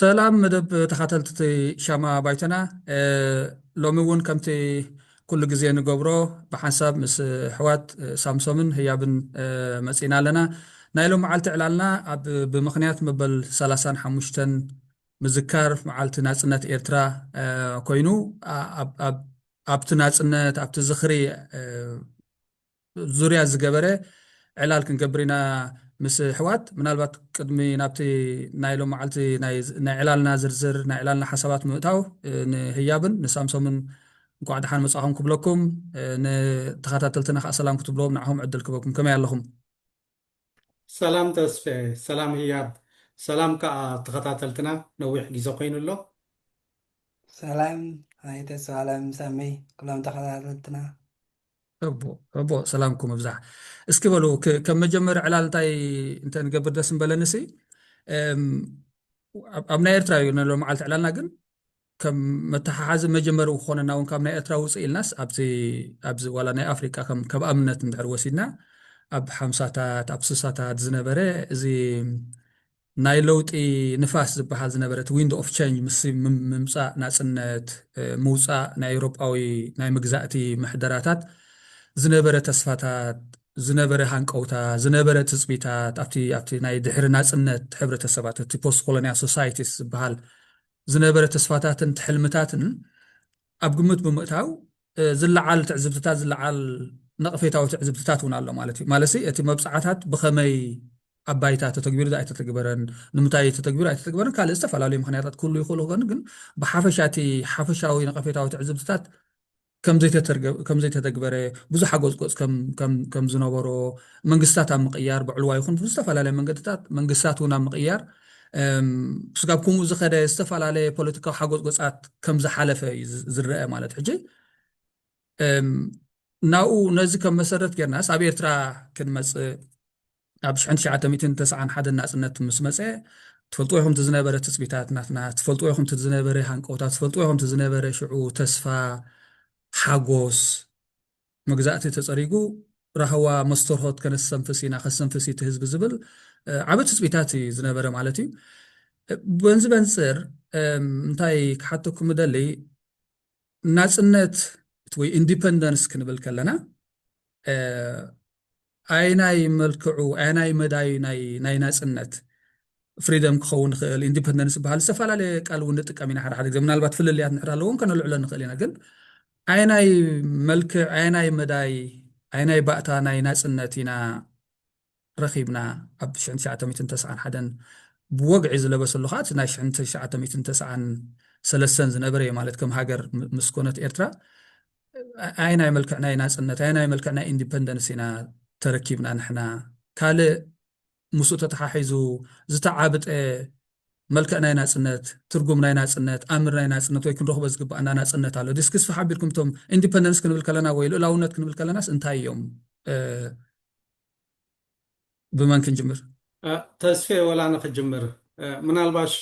ሰላም መደብ ተኻተልትቲ ሻማ ባይቶና ሎሚ እውን ከምቲ ኩሉ ግዜ ንገብሮ ብሓንሳብ ምስ ኣሕዋት ሳምሶምን ህያብን መጺእና ኣለና። ናይ ሎምዓልቲ ዕላልና ኣብ ብምኽንያት መበል ሰላሳን ሓሙሽተን ምዝካር መዓልቲ ናጽነት ኤርትራ ኮይኑ ኣብቲ ናጽነት ኣብቲ ዝኽሪ ዙርያ ዝገበረ ዕላል ክንገብር ኢና ምስ ኣሕዋት። ምናልባት ቅድሚ ናብቲ ናይ ሎም መዓልቲ ናይ ዕላልና ዝርዝር ናይ ዕላልና ሓሳባት ምእታው ንህያብን ንሳምሶምን እንኳዕ ደሓን መጻኹም ክብለኩም ንተኸታተልትና ከኣ ሰላም ክትብልዎም ንዓኹም ዕድል ክበኩም ከመይ ኣለኹም? ሰላም ተስፌ ሰላም ህያብ ሰላም ክኣ ተከታተልትና ነዊሕ ግዜ ኮይኑ ኣሎ። ሰላም ኣይ ተስፋኣለም ሳመይ ኩሎም ተከታተልትና። ሕቡ ሕቡ ሰላምኩም እብዛሕ እስኪ በሉ ከም መጀመሪ ዕላል እንታይ እንተ ንገብር ደስ ምበለኒ ሲ ኣብ ናይ ኤርትራ እዩ ነሎ መዓልቲ ዕላልና ግን ከም መተሓሓዚ መጀመሪ ክኾነና እውን ካብ ናይ ኤርትራ ውፅእ ኢልናስ ኣብዚ ኣብዚ ዋላ ናይ ኣፍሪቃ ከም ከም ኣብነት እንድሕር ወሲድና ኣብ ሓምሳታት ኣብ ስሳታት ዝነበረ እዚ ናይ ለውጢ ንፋስ ዝበሃል ዝነበረ እቲ ዊንዶ ኦፍ ቸንጅ ምስ ምምፃእ ናፅነት ምውፃእ ናይ ኤውሮጳዊ ናይ መግዛእቲ ምሕደራታት ዝነበረ ተስፋታት ዝነበረ ሃንቀውታ ዝነበረ ትፅቢታት ኣብቲ ኣብቲ ናይ ድሕሪ ናፅነት ሕብረተሰባት እቲ ፖስት ኮሎኒያል ሶሳይቲስ ዝበሃል ዝነበረ ተስፋታትን ትሕልምታትን ኣብ ግምት ብምእታው ዝለዓል ትዕዝብትታት ዝለዓል ነቕፌታዊ ትዕዝብትታት እውን ኣሎ ማለት እዩ ማለት እቲ መብፅዓታት ብኸመይ ኣብ ባይታ ተተግቢሩ ኣይተተግበረን ንምንታይ ተተግቢሩ ኣይተተግበረን ካልእ ዝተፈላለዩ ምክንያታት ክህሉ ይኽእሉ ግን ብሓፈሻ እቲ ሓፈሻዊ ነቐፌታዊ ትዕዝብትታት ከምዘይተተግበረ፣ ብዙሓ ጎጽጎጽ ከም ዝነበሮ፣ መንግስታት ኣብ ምቕያር ብዕልዋ ይኹን ብዝተፈላለየ መንገድታት መንግስታት እውን ኣብ ምቕያር ስጋብ ከምኡ ዝኸደ ዝተፈላለየ ፖለቲካዊ ሓጎፅጎፃት ከም ዝሓለፈ እዩ ዝረአ ማለት ሕጂ ናብኡ ነዚ ከም መሰረት ጌርናስ ኣብ ኤርትራ ክንመፅእ ኣብ ሽሕን ትሽዓተ ሚእትን ተስዓን ሓደን ናጽነት ምስ መጸ ትፈልጥዎ ኢኹም እቲ ዝነበረ ትጽቢታት ናትና ትፈልጥዎ ኢኹም እቲ ዝነበረ ሃንቀውታ ትፈልጥዎ ኢኹም እቲ ዝነበረ ሽዑ ተስፋ ሓጎስ መግዛእቲ ተጸሪጉ ራህዋ መስተርሆት ከነስተንፍስ ኢና ከስተንፍስ እቲ ህዝቢ ዝብል ዓበ ትጽቢታት እዩ ዝነበረ ማለት እዩ በንዚ በንጽር እንታይ ክሓተኩም እደሊ ናጽነት ወይ ኢንዲፐንደንስ ክንብል ከለና ኣየናይ መልክዑ ኣየናይ መዳዩ ናይ ናይ ናጽነት ፍሪደም ክኸውን ይኽእል ኢንዲፐንደንስ ዝበሃል ዝተፈላለየ ቃል እውን ንጥቀም ኢና ሓደ ሓደ ግዜ ምናልባት ፍልልያት ንሕር ኣለዎም ከነልዕሎ ንኽእል ኢና ግን ኣየናይ መልክዕ ኣየናይ መዳይ ኣየናይ ባእታ ናይ ናጽነት ኢና ረኺብና ኣብ 1991 ብወግዒ ዝለበሰሉ ከዓ እቲ ናይ 1993 ዝነበረ ማለት ከም ሃገር ምስ ኮነት ኤርትራ ኣየናይ መልክዕ ናይ ናጽነት ኣየናይ መልክዕ ናይ ኢንዲፐንደንስ ኢና ተረኪብና ንሕና ካልእ ምስኡ ተተሓሒዙ ዝተዓብጠ መልክዕ ናይ ናጽነት ትርጉም ናይ ናጽነት ኣምር ናይ ናጽነት ወይ ክንረኽቦ ዝግባኣና ናጽነት ኣሎ ድስ ክስፋ ሓቢርኩም እቶም ኢንዲፐንደንስ ክንብል ከለና ወይ ልእላውነት ክንብል ከለናስ እንታይ እዮም ብመን ክንጅምር? ተስፌ ወላ ኣነ ክጅምር ምናልባሽ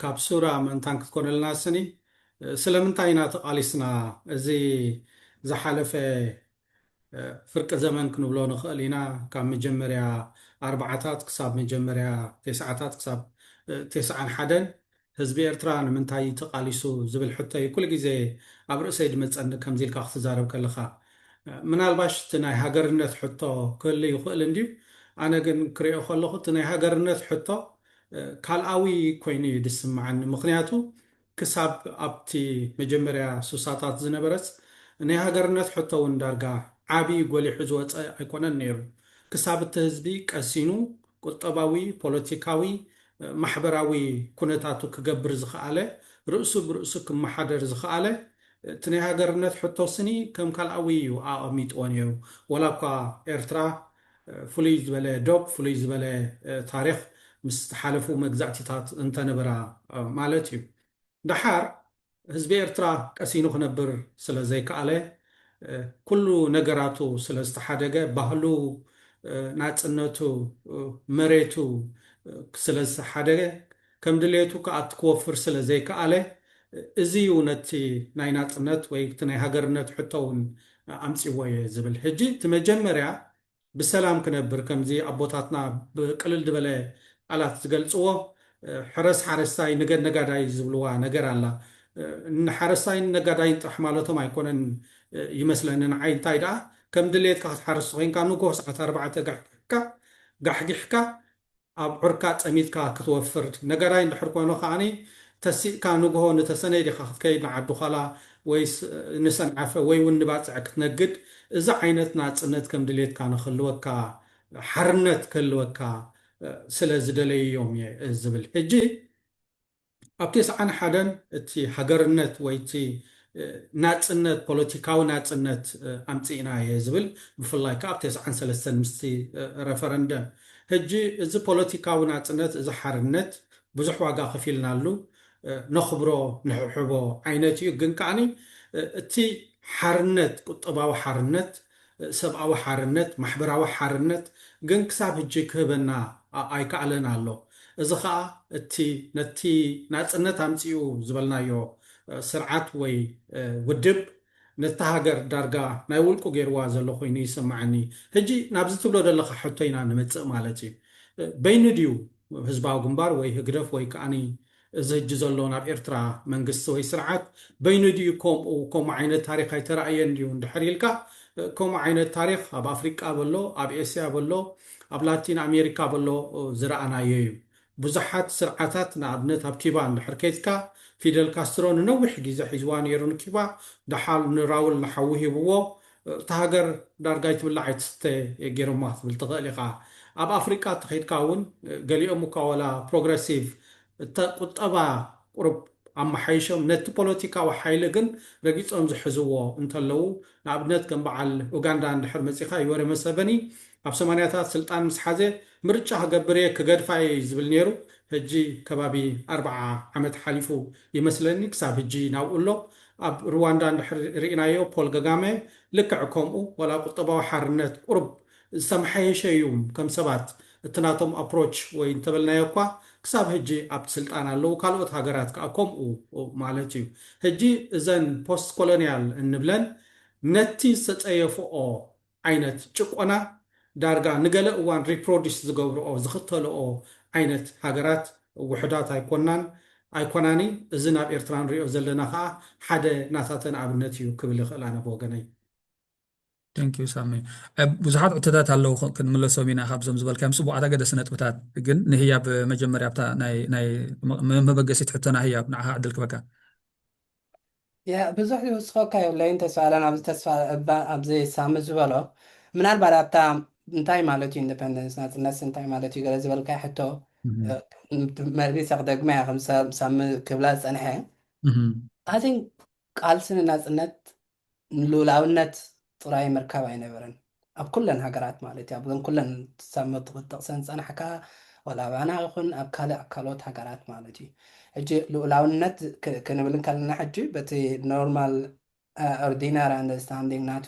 ካብ ሱራ ምእንታን ክትኮነልና ስኒ ስለምንታይ ኢና ተቃሊስና እዚ ዝሓለፈ ፍርቂ ዘመን ክንብሎ ንክእል ኢና ካብ መጀመርያ ኣርባዓታት ክሳብ መጀመርያ ቴስዓታት ክሳብ ቴስዓን ሓደን ህዝቢ ኤርትራ ንምንታይ እዩ ተቃሊሱ ዝብል ሕቶ እዩ ኩሉ ግዜ ኣብ ርእሰይ ድመጸኒ ከምዚ ኢልካ ክትዛረብ ከለኻ። ምናልባሽ እቲ ናይ ሃገርነት ሕቶ ክህሉ ይኽእል እንድዩ ኣነ ግን ክሪኦ ከለኹ እቲ ናይ ሃገርነት ሕቶ ካልኣዊ ኮይኑ እዩ ድስምዓኒ ምኽንያቱ ክሳብ ኣብቲ መጀመርያ ሱሳታት ዝነበረስ ናይ ሃገርነት ሕቶ ውን ዳርጋ ዓቢ ጎሊሑ ዝወጸ ኣይኮነን ኔሩ ክሳብ እቲ ህዝቢ ቀሲኑ ቁጠባዊ፣ ፖለቲካዊ፣ ማሕበራዊ ኩነታቱ ክገብር ዝኸኣለ፣ ርእሱ ብርእሱ ክመሓደር ዝኸኣለ፣ እቲ ናይ ሃገርነት ሕቶ ስኒ ከም ካልኣዊ እዩ ኣቐሚጥዎ ነይሩ። ዋላ እኳ ኤርትራ ፍሉይ ዝበለ ዶብ፣ ፍሉይ ዝበለ ታሪኽ ምስ ዝሓለፉ መግዛእቲታት እንተነበራ ማለት እዩ። ደሓር ህዝቢ ኤርትራ ቀሲኑ ክነብር ስለ ዘይከኣለ፣ ኩሉ ነገራቱ ስለ ዝተሓደገ፣ ባህሉ፣ ናጽነቱ፣ መሬቱ ስለ ዝተሓደገ፣ ከም ድሌቱ ክኣቱ ክወፍር ስለ ዘይከኣለ፣ እዚ እዩ ነቲ ናይ ናጽነት ወይ እቲ ናይ ሃገርነት ሕቶ እውን ኣምጺእዎ እየ ዝብል። ሕጂ እቲ መጀመርያ ብሰላም ክነብር ከምዚ ኣቦታትና ብቅልል ድበለ ቃላት ዝገልጽዎ ሕረስ ሓረስታይ ንገድ ነጋዳይ ዝብልዋ ነገር ኣላ ንሓረስታይን ነጋዳይን ጥራሕ ማለቶም ኣይኮነን ይመስለኒ ንዓይ እንታይ ድኣ ከም ድሌትካ ክትሓርስ ኮይንካ ንግሆ ሰዓት ኣርባዕተ ጋሕጊሕካ ጋሕጊሕካ ኣብዑርካ ጸሚድካ ክትወፍር ነገራይ እንድሕር ኮኑ ከኣ ተሲእካ ንግሆ ንተሰነይ ዲኻ ክትከይድ ንዓዲዃላ ወይስ ንሰንዓፈ ወይ ውን ንባጽዕ ክትነግድ እዚ ዓይነት ናጽነት ከም ድሌትካ ንክህልወካ ሓርነት ክህልወካ ስለ ዝደለዩ'ዮም እየ ዝብል ሕጂ ኣብ ቴስዓን ሓደን እቲ ሃገርነት ወይ እቲ ናጽነት ፖለቲካዊ ናጽነት ኣምጺእና እየ ዝብል ብፍላይ ከኣ ኣብ ቴስዓን ሰለስተን ምስቲ ረፈረንደም ህጂ እዚ ፖለቲካዊ ናጽነት እዚ ሓርነት ብዙሕ ዋጋ ከፊልናሉ ነኽብሮ ንሕብሕቦ ዓይነት እዩ ግን ከኣ እቲ ሓርነት ቁጠባዊ ሓርነት ሰብኣዊ ሓርነት፣ ማሕበራዊ ሓርነት ግን ክሳብ ህጂ ክህበና ኣይከኣለን ኣሎ። እዚ ከኣ እቲ ነቲ ናጽነት ኣምጺኡ ዝበልናዮ ስርዓት ወይ ውድብ ነታ ሃገር ዳርጋ ናይ ውልቁ ጌርዋ ዘሎ ኮይኑ ይስመዓኒ። ህጂ ናብዚ ትብሎ ደለኻ ሕቶ ኢና ንመጽእ ማለት እዩ። በይኑ ድዩ ህዝባዊ ግንባር ወይ ህግደፍ ወይ ከኣ እዚ ህጂ ዘሎ ናብ ኤርትራ መንግስቲ ወይ ስርዓት በይኑ ድዩ ኮምኡ ኮሙ ዓይነት ታሪኽ ኣይተራእየን ድዩ እንድሕር ኢልካ ኮሙ ዓይነት ታሪኽ ኣብ ኣፍሪቃ በሎ ኣብ ኤስያ በሎ ኣብ ላቲን ኣሜሪካ በሎ ዝረኣናዮ እዩ ቡዙሓት ስርዓታት ንኣብነት ኣብ ኪባ እንድሕር ከይትካ ፊደል ካስትሮ ንነዊሕ ጊዘ ሒዝዋ ነይሩ ንኪባ ዳሓል ንራውል ንሓዉ ሂብዎ እታ ሃገር ዳርጋ ኣይትብላዕ ኣይትስተ ጌሮማ ክትብል ትኽእል ኢኻ። ኣብ ኣፍሪቃ ተኼድካ እውን ገሊኦም እኳ ዋላ ፕሮግረሲቭ እተ ቁጠባ ቁሩብ ኣመሓይሾም ነቲ ፖለቲካዊ ሓይሊ ግን ረጊጾም ዝሕዝዎ እንተለዉ ንኣብነት ከም በዓል ኡጋንዳ እንድሕር መጺኻ ዩወሪ መሰቨኒ ኣብ ሰማንያታት ስልጣን ምስ ሓዘ ምርጫ ክገብር እየ ክገድፋ እየ እዩ ዝብል ነይሩ ህጂ ከባቢ ኣርብዓ ዓመት ሓሊፉ ይመስለኒ ክሳብ ህጂ ናብኡ ኣሎ ኣብ ርዋንዳ እንድሕር ሪኢናዮ ፖል ገጋመ ልክዕ ከምኡ ዋላ ቁጠባዊ ሓርነት ቁሩብ ዝተመሓየሸ እዩ ከም ሰባት እቲ ናቶም ኣፕሮች ወይ እንተበልናዮ እኳ ክሳብ ህጂ ኣብቲ ስልጣን ኣለዉ ካልኦት ሃገራት ከኣ ከምኡ ማለት እዩ ህጂ እዘን ፖስት ኮሎንያል እንብለን ነቲ ዝተጸየፍኦ ዓይነት ጭቆና ዳርጋ ንገለ እዋን ሪፕሮዲስ ዝገብርኦ ዝኽተልኦ ዓይነት ሃገራት ውሑዳት ኣይኮናን ኣይኮናኒ እዚ ናብ ኤርትራ ንሪኦ ዘለና ከኣ ሓደ ናታተን ኣብነት እዩ ክብል ይኽእል ኣነ ብወገነይ። Thank you ሳሚ ብዙሓት ዕቶታት ኣለዉ ክንምለሶም ኢና ካብዞም ዝበልካዮም ጽቡቓት ኣገደሲ ነጥብታት ግን ንህያብ መጀመርያ ኣብታ ናይ ናይ መበገሲት ሕቶና ህያብ ንዓኻ ዕድል ክበካ ያእ ብዙሕ ዝውስኸካ የብለይን ተስፋ ኣለን ኣብዚ ተስፋ እባ ኣብዚ ሳሚ ዝበሎ ምናልባት ኣብታ እንታይ ማለት እዩ ኢንደፐንደንስ ናጽነትስ እንታይ ማለት እዩ ገለ ዝበልካዮ ሕቶ መሊሰ ክደግማ እያ ከም ሳሚ ክብላ ዝጸንሐ ኣይ ቲንክ ቃልሲ ንናጽነት ንልኡላውነት ጥራይ ምርካብ ኣይነበረን ኣብ ኩለን ሃገራት ማለት እዩ ኣብዘን ኩለን ሳብ ክትጠቕሰን ዝጸናሕካ ዋላ ኣባና ይኹን ኣብ ካልእ ካልኦት ሃገራት ማለት እዩ ሕጂ ልኡላውነት ክንብል እንከለና ሕጂ በቲ ኖርማል ኦርዲናር ኣንደርስታንዲንግ ናቱ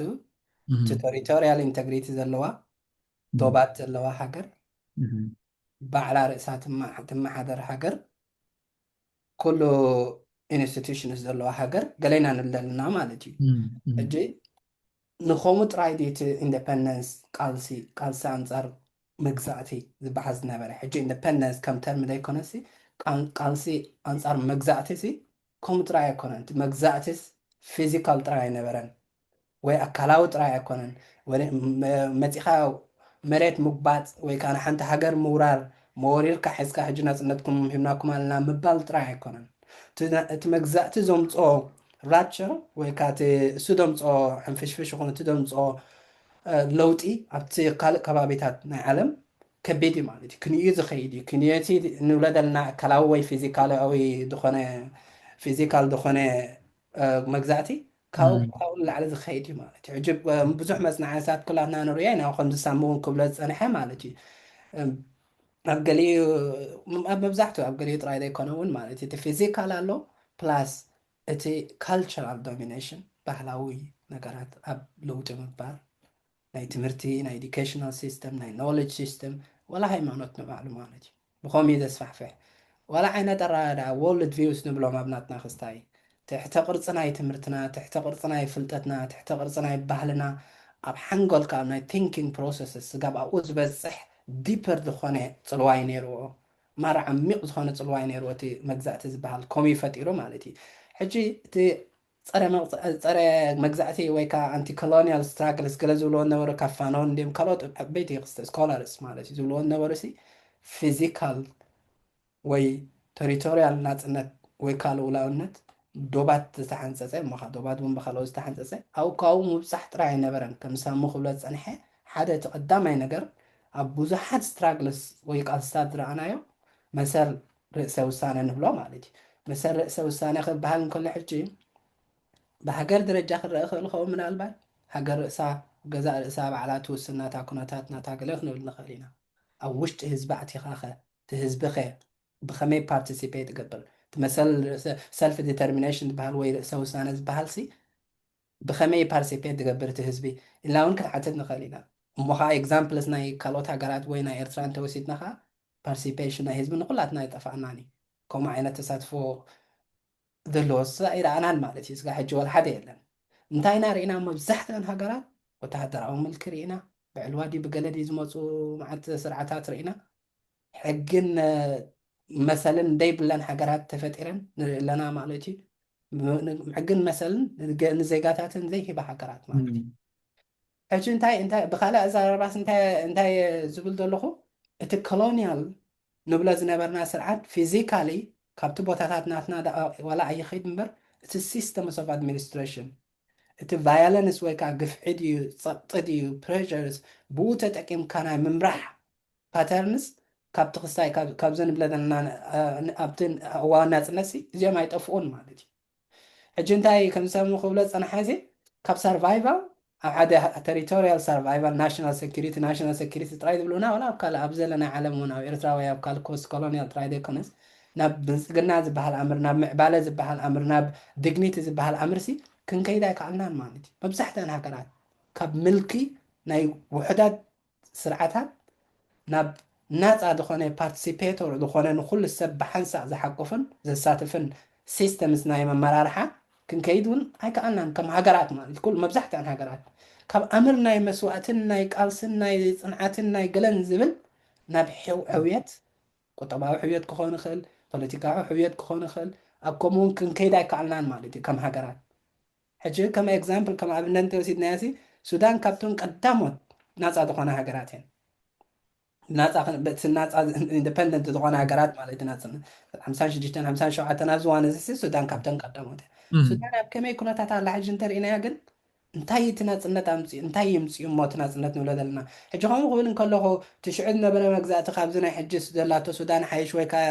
እቲ ቶሪቶርያል ኢንተግሪቲ ዘለዋ ዶባት ዘለዋ ሃገር ባዕላ ርእሳ ትመሓደር ሃገር ኩሉ ኢንስቲቱሽንስ ዘለዋ ሃገር ገለ ኢና ንብል ዘለና ማለት እዩ። ሕጂ ንከምኡ ጥራይ ድዩ እቲ ኢንደፐንደንስ ቃልሲ ቃልሲ ኣንጻር መግዛእቲ ዝበሃል ዝነበረ? ሕጂ ኢንደፐንደንስ ከም ተርሚ ዘይኮነሲ ቃልሲ ኣንጻር መግዛእቲሲ ከምኡ ጥራይ ኣይኮነን። እቲ መግዛእቲስ ፊዚካል ጥራይ ኣይነበረን። ወይ ኣካላዊ ጥራይ ኣይኮነን መጺኻ መሬት ምጉባጥ ወይ ከኣ ንሓንቲ ሃገር ምውራር መወሪርካ ሒዝካ ሕጂ ናጽነትኩም ሂብናኩም ኣለና ምባል ጥራይ ኣይኮነን እቲ መግዛእቲ ዘምጽኦ ራፕቸር ወይ ከኣ እቲ እሱ ዘምጽኦ ሕንፍሽፍሽ ይኹን እቲ ዘምጽኦ ለውጢ ኣብቲ ካልእ ከባቢታት ናይ ዓለም ከቢድ እዩ ማለት እዩ ክንዩ ዝኸይድ እዩ ክንዩ እቲ ንብሎ ዘለና ኣካላዊ ወይ ፊዚካላዊ ዝኾነ ፊዚካል ዝኾነ መግዛእቲ ካብኡ ብኣኡ ንላዕሊ ዝኸይድ እዩ ማለት እዩ ሕጂ ብዙሕ መጽናዕትታት ኩላትና ንርዮ ኢና ከምዚ ሳሚ እውን ክብሎ ዝጸንሐ ማለት እዩ ኣብ ገሊኡ ኣብ መብዛሕትኡ ኣብ ገሊኡ ጥራይ ዘይኮነ እውን ማለት እቲ ፊዚካል ኣሎ ፕላስ እቲ ካልቸራል ዶሚኔሽን ባህላዊ ነገራት ኣብ ለውጢ ምባር ናይ ትምህርቲ ናይ ኢዱኬሽናል ሲስተም ናይ ኖሌጅ ሲስተም ዋላ ሃይማኖት ንባዕሉ ማለት እዩ ብኸምኡ እዩ ዘስፋሕፍሕ ዋላ ዓይነት ኣረኣእያ ወርልድ ቪውስ ንብሎም ኣብ ናትና ክስታይ ትሕተ ቅርፂ ናይ ትምህርትና ትሕተ ቅርፂ ናይ ፍልጠትና ትሕተ ቅርፂ ናይ ባህልና ኣብ ሓንጎልካ ኣብ ናይ ቲንኪንግ ፕሮሰስስ ስጋብ ኣብኡ ዝበፅሕ ዲፐር ዝኾነ ፅልዋ እዩ ነይርዎ ማራ ዓሚቕ ዝኾነ ፅልዋ እዩ ነይርዎ እቲ መግዛእቲ ዝበሃል ከምኡ እዩ ፈጢሩ ማለት እዩ ሕጂ እቲ ጸረ መግዛእቲ ወይ ከኣ ኣንቲ ኮሎንያል ስትራግልስ ገለ ዝብልዎ ዝነበሩ ካብ ፋኖን ድም ካልኦት ዓበይቲ ስኮላርስ ማለት እዩ ዝብልዎ ዝነበሩሲ ፊዚካል ወይ ተሪቶርያል ናጽነት ወይ ከኣ ልኡላውነት ዶባት ዝተሓንጸጸ እሞ ከኣ ዶባት እውን ብካልኦት ዝተሓንጸጸ ኣብኡ ካብኡ ምብጻሕ ጥራይ ኣይነበረን ከም ሳሙ ክብሎ ዝጸንሐ ሓደ እቲ ቀዳማይ ነገር ኣብ ብዙሓት ስትራግልስ ወይ ቃልስታት ዝረኣናዮ መሰል ርእሰ ውሳነ ንብሎ ማለት እዩ። መሰል ርእሰ ውሳነ ክበሃል እንከሎ ሕጂ ብሃገር ደረጃ ክረኣ ይኽእል ይኸውን ምናልባት ሃገር ርእሳ ገዛእ ርእሳ ባዕላ ትውስን ናታ ኩነታት ናታ ገለ ክንብል ንኽእል ኢና። ኣብ ውሽጢ ህዝቢ ኣቲኻኸ እቲ ህዝቢኸ ብኸመይ ፓርቲሲፔት ይገብር? እቲ መሰል ርእሰ ሰልፍ ዲተርሚነሽን ዝበሃል ወይ ርእሰ ውሳነ ዝበሃልሲ ብኸመይ ፓርቲሲፔት ዝገብር እቲ ህዝቢ ኢልና እውን ክንሓትት ንኽእል ኢና። እሞ ኸኣ ኤግዛምፕልስ ናይ ካልኦት ሃገራት ወይ ናይ ኤርትራ እንተወሲድና ኸኣ ፓርሲፔሽን ናይ ህዝቢ ንኩላትና ኣይጠፋኣናን እዩ ከምኡ ዓይነት ተሳትፎ ዘለዎ ስጋዕ ኣይረኣናን ማለት እዩ ስጋዕ ሕጂ ወልሓደ የለን እንታይ ኢና ርኢና መብዛሕትኣን ሃገራት ወተሃደራዊ ምልኪ ርኢና ብዕልዋ ድዩ ብገለ ድዩ ዝመፁ መዓት ስርዓታት ርኢና ሕግን መሰልን ደይብለን ሃገራት ተፈጢረን ንርኢ ኣለና ማለት እዩ ሕግን መሰልን ንዜጋታትን ዘይሂባ ሃገራት ማለት እዩ ሕጂ እንታይ እንታይ ብካልእ ኣዘራርባስ እንታይ እንታይ ዝብል ዘለኹ እቲ Colonial ንብሎ ዝነበርና ስርዓት Physically ካብቲ ቦታታት ናትና ደኣ ዋላ ኣይኺድ እምበር እቲ Systems of Administration እቲ Violence ወይ ከኣ ግፍዒ ድዩ ጸቕጢ ድዩ Pressures ብኡ ተጠቂምካ ናይ ምምራሕ Patterns ካብቲ ክስታይ ካብ ካብዚ ንብሎ ዘለና ኣብቲ እዋን ናጽነትሲ እዚኦም ኣይጠፍኡን ማለት እዩ። ሕጂ እንታይ ከም ዝሰሙ ክብሎ ዝጸንሓ እዚ ካብ ሰርቫይቫል ኣብ ሓደ ተሪቶርያል ሰርቫይቫል ናሽናል ሰኩሪቲ ናሽናል ሰኩሪቲ ጥራይ ዝብሉና ወላ ኣብ ካልእ ኣብ ዘለ ናይ ዓለም እውን ኣብ ኤርትራ ወይ ኣብ ካልእ ኮስት ኮሎንያል ጥራይ ዘይኮነስ ናብ ብልጽግና ዝበሃል ኣምር ናብ ምዕባለ ዝበሃል ኣምር ናብ ድግኒቲ ዝበሃል ኣምርሲ ክንከይድ ኣይከኣልናን ማለት እዩ መብዛሕትኣን ሃገራት ካብ ምልኪ ናይ ውሑዳት ስርዓታት ናብ ናጻ ዝኾነ ፓርትሲፔቶር ዝኾነ ንኹሉ ሰብ ብሓንሳእ ዝሓቁፍን ዘሳትፍን ሲስተምስ ናይ ኣመራርሓ ክንከይድ ውን ኣይከኣልናን ከም ሃገራት ማለት ኩሉ መብዛሕትኣን ሃገራት ካብ ኣምር ናይ መስዋእትን ናይ ቃልስን ናይ ጽንዓትን ናይ ገለን ዝብል ናብ ሕውየት ቁጠባዊ ሕውየት ክኾን ይኽእል ፖለቲካዊ ሕውየት ክኾን ይኽእል ኣብ ከምኡ ውን ክንከይድ ኣይከኣልናን ማለት እዩ ከም ሃገራት ሕጂ ከም ኤግዛምፕል ከም ኣብነት እንተ ወሲድናያሲ ሱዳን ካብተን ቀዳሞት ናጻ ዝኾና ሃገራት እየን። ናጻ ክን በቲ ናጻ ኢንዲፐንደንት ዝኾና ሃገራት ማለት ኢና ጽን ሓምሳን ሽዱሽተን ሓምሳን ሸውዓተን ኣብዚ እዋን እዚ ሱዳን ካብተን ቀዳሞት እያ። እም፣ ሱዳን ኣብ ከመይ ኩነታት ኣላ ሕጂ እንተ ርኢናያ ግን እንታይ እዩ እቲ ናጽነት ኣምጽኡ እንታይ የምጽኡ እሞ እቲ ናጽነት ንብሎ ዘለና ሕጂ ከምኡ ክብል እንከለኹ እቲ ሽዑ ዝነበረ መግዛእቲ ካብዚ ናይ ሕጂ ዘላቶ ሱዳን ሓይሽ ወይ ከኣ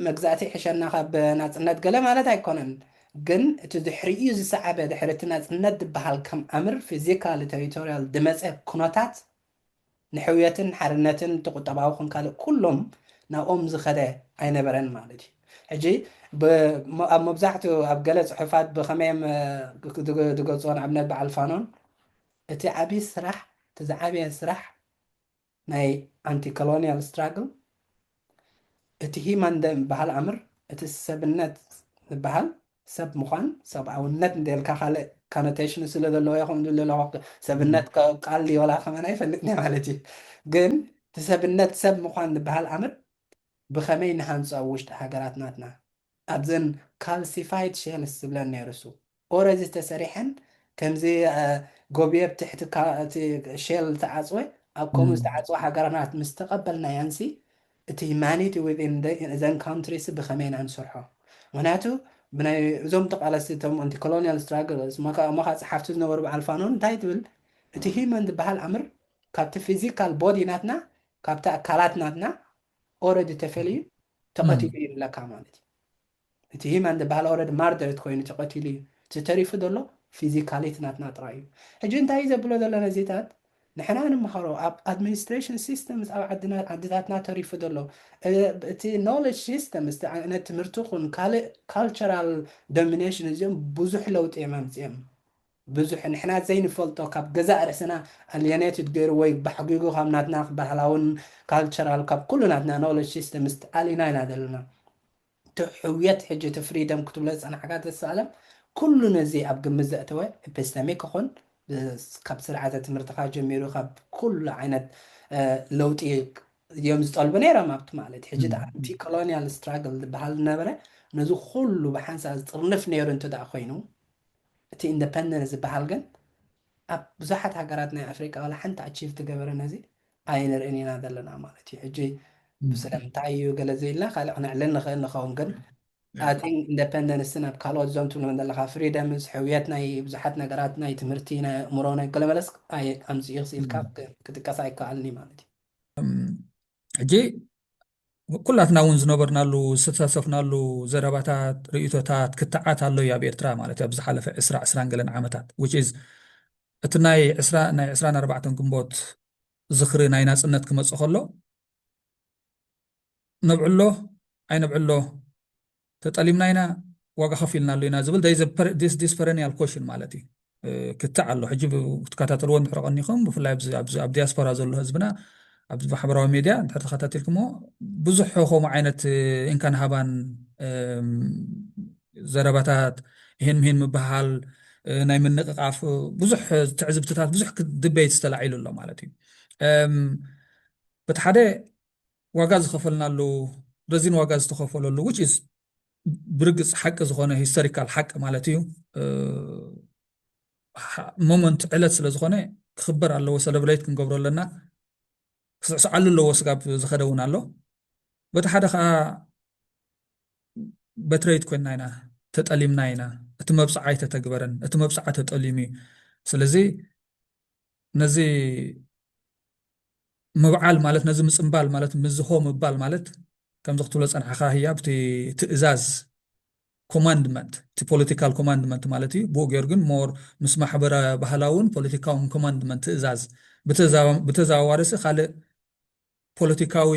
መግዛእቲ ይሕሸና ካብ ናጽነት ገለ ማለት ኣይኮነን ግን እቲ ድሕሪኡ ዝሰዓበ ድሕሪ እቲ ናጽነት ዝበሃል ከም ኣምር ፊዚካሊ ተሪቶርያል ድመጸ ኩነታት ንሕውየትን ሓርነትን እቲ ቁጠባዊ ኮን ካልእ ኩሎም ናብኦም ዝኸደ ኣይነበረን ማለት እዩ። ሕጂ ብ ኣብ መብዛሕትኡ ኣብ ገለ ጽሑፋት ብኸመይ እዮም ድገልጽዎ ንኣብነት በዓል ፋኖን እቲ ዓቢ ስራሕ እቲ ዝዓበየ ስራሕ ናይ ኣንቲ ኮሎንያል ስትራግል እቲ ሂማን ደምበሃል ኣምር እቲ ሰብነት ዝበሃል ሰብ ምዃን ሰብኣውነት እንተልካ ካልእ ኮኖቴሽን ስለ ዘለዎ እየ ከምኡ ዝብል ዘለኹ ሰብነት ቃል ድዩ ዋላ ከማን ኣይፈልጥን እየ ማለት እዩ ግን እቲ ሰብነት ሰብ ምዃን ዝበሃል ኣምር ብኸመይ ንሃንጾ ኣብ ውሽጢ ሃገራት ናትና ኣብዘን ካልሲፋይድ ሼልስ ዝብለን ነይሩ እሱ ኦረዲ ዝተሰሪሐን ከምዚ ጎብየ ብ ትሕቲ እቲ ሼል ዝተዓጽወ ኣብ ከምኡ ዝተዓጽወ ሃገራናት ምስ ተቀበልናየንሲ እቲ ሂማኒቲ ዊዝን እዘን ካንትሪሲ ብከመይ ኢና ንሰርሖ ምክንያቱ ብናይ እዞም ተቃለስቲ እቶም ኣንቲ ኮሎንያል ስትራግል እሞካ ጸሓፍቲ ዝነበሩ በዓል ፋኖን እንታይ ትብል እቲ ሂመን ዝበሃል ኣምር ካብቲ ፊዚካል ቦዲ ናትና ካብቲ ኣካላት ናትና ኦረዲ ተፈልዩ ተቀቲሉ እዩ ንብለካ ማለት እዩ እቲ ሂማን ዝባሃል ኣውረድ ማርደርት ኮይኑ ተቀቲሉ እዩ እቲ ተሪፉ ዘሎ ፊዚካሊት ናትና ጥራይ እዩ ሕጂ እንታይ እዩ ዘብሎ ዘሎ ነዚታት ንሕና ንማሃሮ ኣብ ኣድሚኒስትሬሽን ሲስተምስ ኣብ ዓድና ዓድታትና ተሪፉ ዘሎ እቲ ኖለጅ ሲስተምስ እቲ ዓይነት ትምህርቲ ኹን ካልእ ካልቸራል ዶሚኔሽን እዚኦም ብዙሕ ለውጢ እዮም ኣምጺኦም ብዙሕ ንሕና ዘይንፈልጦ ካብ ገዛእ ርእስና ኣልየኔትድ ገይሩ ወይ ባሕጒጉ ካብ ናትና ባህላውን ካልቸራል ካብ ኩሉ ናትና ኖለጅ ሲስተምስ ተኣሊና ኢና ዘለና እቲ ሕውየት ሕጂ እቲ ፍሪደም ክትብሎ ዝጸናሕካ ዘሰኣለም ኩሉ ነዚ ኣብ ግምት ዘእተወ ኢፒስተሚክ ይኹን ካብ ስርዓተ ትምህርትኻ ጀሚሩ ካብ ኩሉ ዓይነት ለውጢ እዮም ዝጠልቡ ነይሮም ኣብቲ ማለት ሕጂ እቲ ኣንቲ ኮሎኒያል ስትራግል ዝበሃል ዝነበረ ነዚ ኩሉ ብሓንሳእ ዝጥርንፍ ነይሩ እንተደኣ ኮይኑ እቲ ኢንደፐንደንስ ዝበሃል ግን ኣብ ብዙሓት ሃገራት ናይ ኣፍሪቃ ዋላ ሓንቲ ኣቺቭ ትገበረ ነዚ ኣይንርእን ኢና ዘለና ማለት እዩ ሕጂ ስለምንታይ እዩ ገለ ዘይልና ካልእ ክነዕልል ንኽእል ንኸውን ግን ኣቲን ኢንደፐንደንስን ኣብ ካልኦት ዞም ትብሎም ዘለካ ፍሪደምስ ሕውየት ናይ ብዙሓት ነገራት ናይ ትምህርቲ ናይ ኣእምሮ ናይ ገለ መለስ ኣምፅኡ ክስኢልካ ክጥቀስ ኣይከኣልን እዩ ማለት እዩ ሕጂ ኩላትና እውን ዝነበርናሉ ዝተሳተፍናሉ ዘረባታት ርእይቶታት ክትዓት ኣሎ እዩ ኣብ ኤርትራ ማለት ኣብ ዝሓለፈ ዕስራ ዕስራን ገለን ዓመታት which is እቲ ናይ ዕስራ ናይ ዕስራን ኣርባዕተን ግንቦት ዝኽሪ ናይ ናጽነት ክመጽእ ከሎ ነብዕሎ ኣይነብዕሎ ተጠሊምና ኢና ዋጋ ከፊልናሉ ኢና ዝብል ዲስፐረኒያል ኮሽን ማለት እዩ ክትዕ ኣሎ ሕጂ ክትከታተልዎ እንድሕር ቀኒኹም ብፍላይ ኣብ ዲያስፖራ ዘሎ ህዝብና ኣብዚ ማሕበራዊ ሚድያ እንድሕር ተኸታቲልኩምዎ ብዙሕ ከምኡ ዓይነት እንካን ሃባን ዘረባታት ይህን ምሂን ምበሃል ናይ ምንቕቓፍ ብዙሕ ትዕዝብትታት ብዙሕ ድበይት ዝተላዒሉ ኣሎ ማለት እዩ በቲ ሓደ ዋጋ ዝኸፈልናሉ ረዚን ዋጋ ዝተኸፈለሉ which is ብርግጽ ሓቂ ዝኾነ ሂስቶሪካል ሓቂ ማለት እዩ ሞመንት ዕለት ስለ ዝኾነ ክኽበር ኣለዎ ሰለብሬት ክንገብሮ ኣለና ክስዕስዓሉ ኣለዎ ስጋብ ዝኸደ እውን ኣሎ በቲ ሓደ ከዓ በትረይት ኮይና ኢና ተጠሊምና ኢና እቲ መብፅዓ ኣይተተግበረን እቲ መብፅዓ ተጠሊሙ እዩ ስለዚ ነዚ ምብዓል ማለት ነዚ ምፅምባል ማለት ምዝሆ ምባል ማለት ከምዚ ክትብሎ ፀናሕካ ህያብ እቲ ትእዛዝ ኮማንድመንት እቲ ፖለቲካል ኮማንድመንት ማለት እዩ ብኡ ገይሩ ግን ሞር ምስ ማሕበረ ባህላውን ፖለቲካውን ኮማንድመንት ትእዛዝ ብተዘዋዋሪ ሲ ካልእ ፖለቲካዊ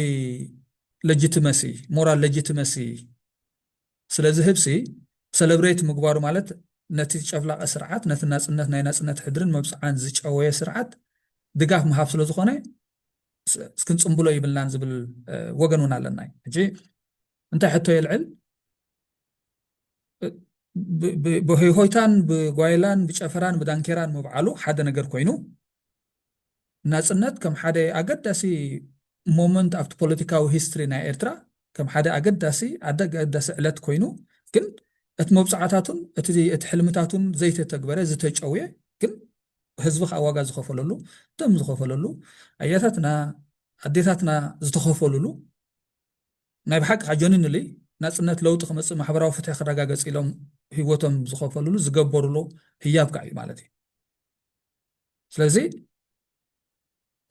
ሌጂትመሲ ሞራል ሌጂትመሲ ስለዚ ህብሲ ሰለብረይት ምግባሩ ማለት ነቲ ጨፍላቂ ስርዓት ነቲ ናጽነት ናይ ናጽነት ሕድርን መብጽዓን ዝጨወየ ስርዓት ድጋፍ ምሃብ ስለ ዝኾነ ክንጽምብሎ ይብልናን ዝብል ወገን እውን ኣለና ሕጂ እንታይ ሕቶ የልዕል ብሆይሆይታን ብጓይላን ብጨፈራን ብዳንኬራን ምብዓሉ ሓደ ነገር ኮይኑ ናጽነት ከም ሓደ ኣገዳሲ ሞመንት ኣብቲ ፖለቲካዊ ሂስትሪ ናይ ኤርትራ ከም ሓደ ኣገዳሲ ኣገዳሲ ዕለት ኮይኑ ግን እቲ መብጽዓታቱን እቲ እቲ ሕልምታቱን ዘይተተግበረ ዝተጨውየ ግን ህዝቢ ከዓ ዋጋ ዝኸፈለሉ ደም ዝኸፈለሉ ኣያታትና ኣዴታትና ዝተኸፈሉሉ ናይ ብሓቂ ከዓ ጀኒንሊ ናጽነት ለውጢ ክመፅእ ማሕበራዊ ፍትሒ ክረጋገፅ ኢሎም ህይወቶም ዝኸፈሉሉ ዝገበሩሉ ህያብ ከዓ እዩ ማለት እዩ ስለዚ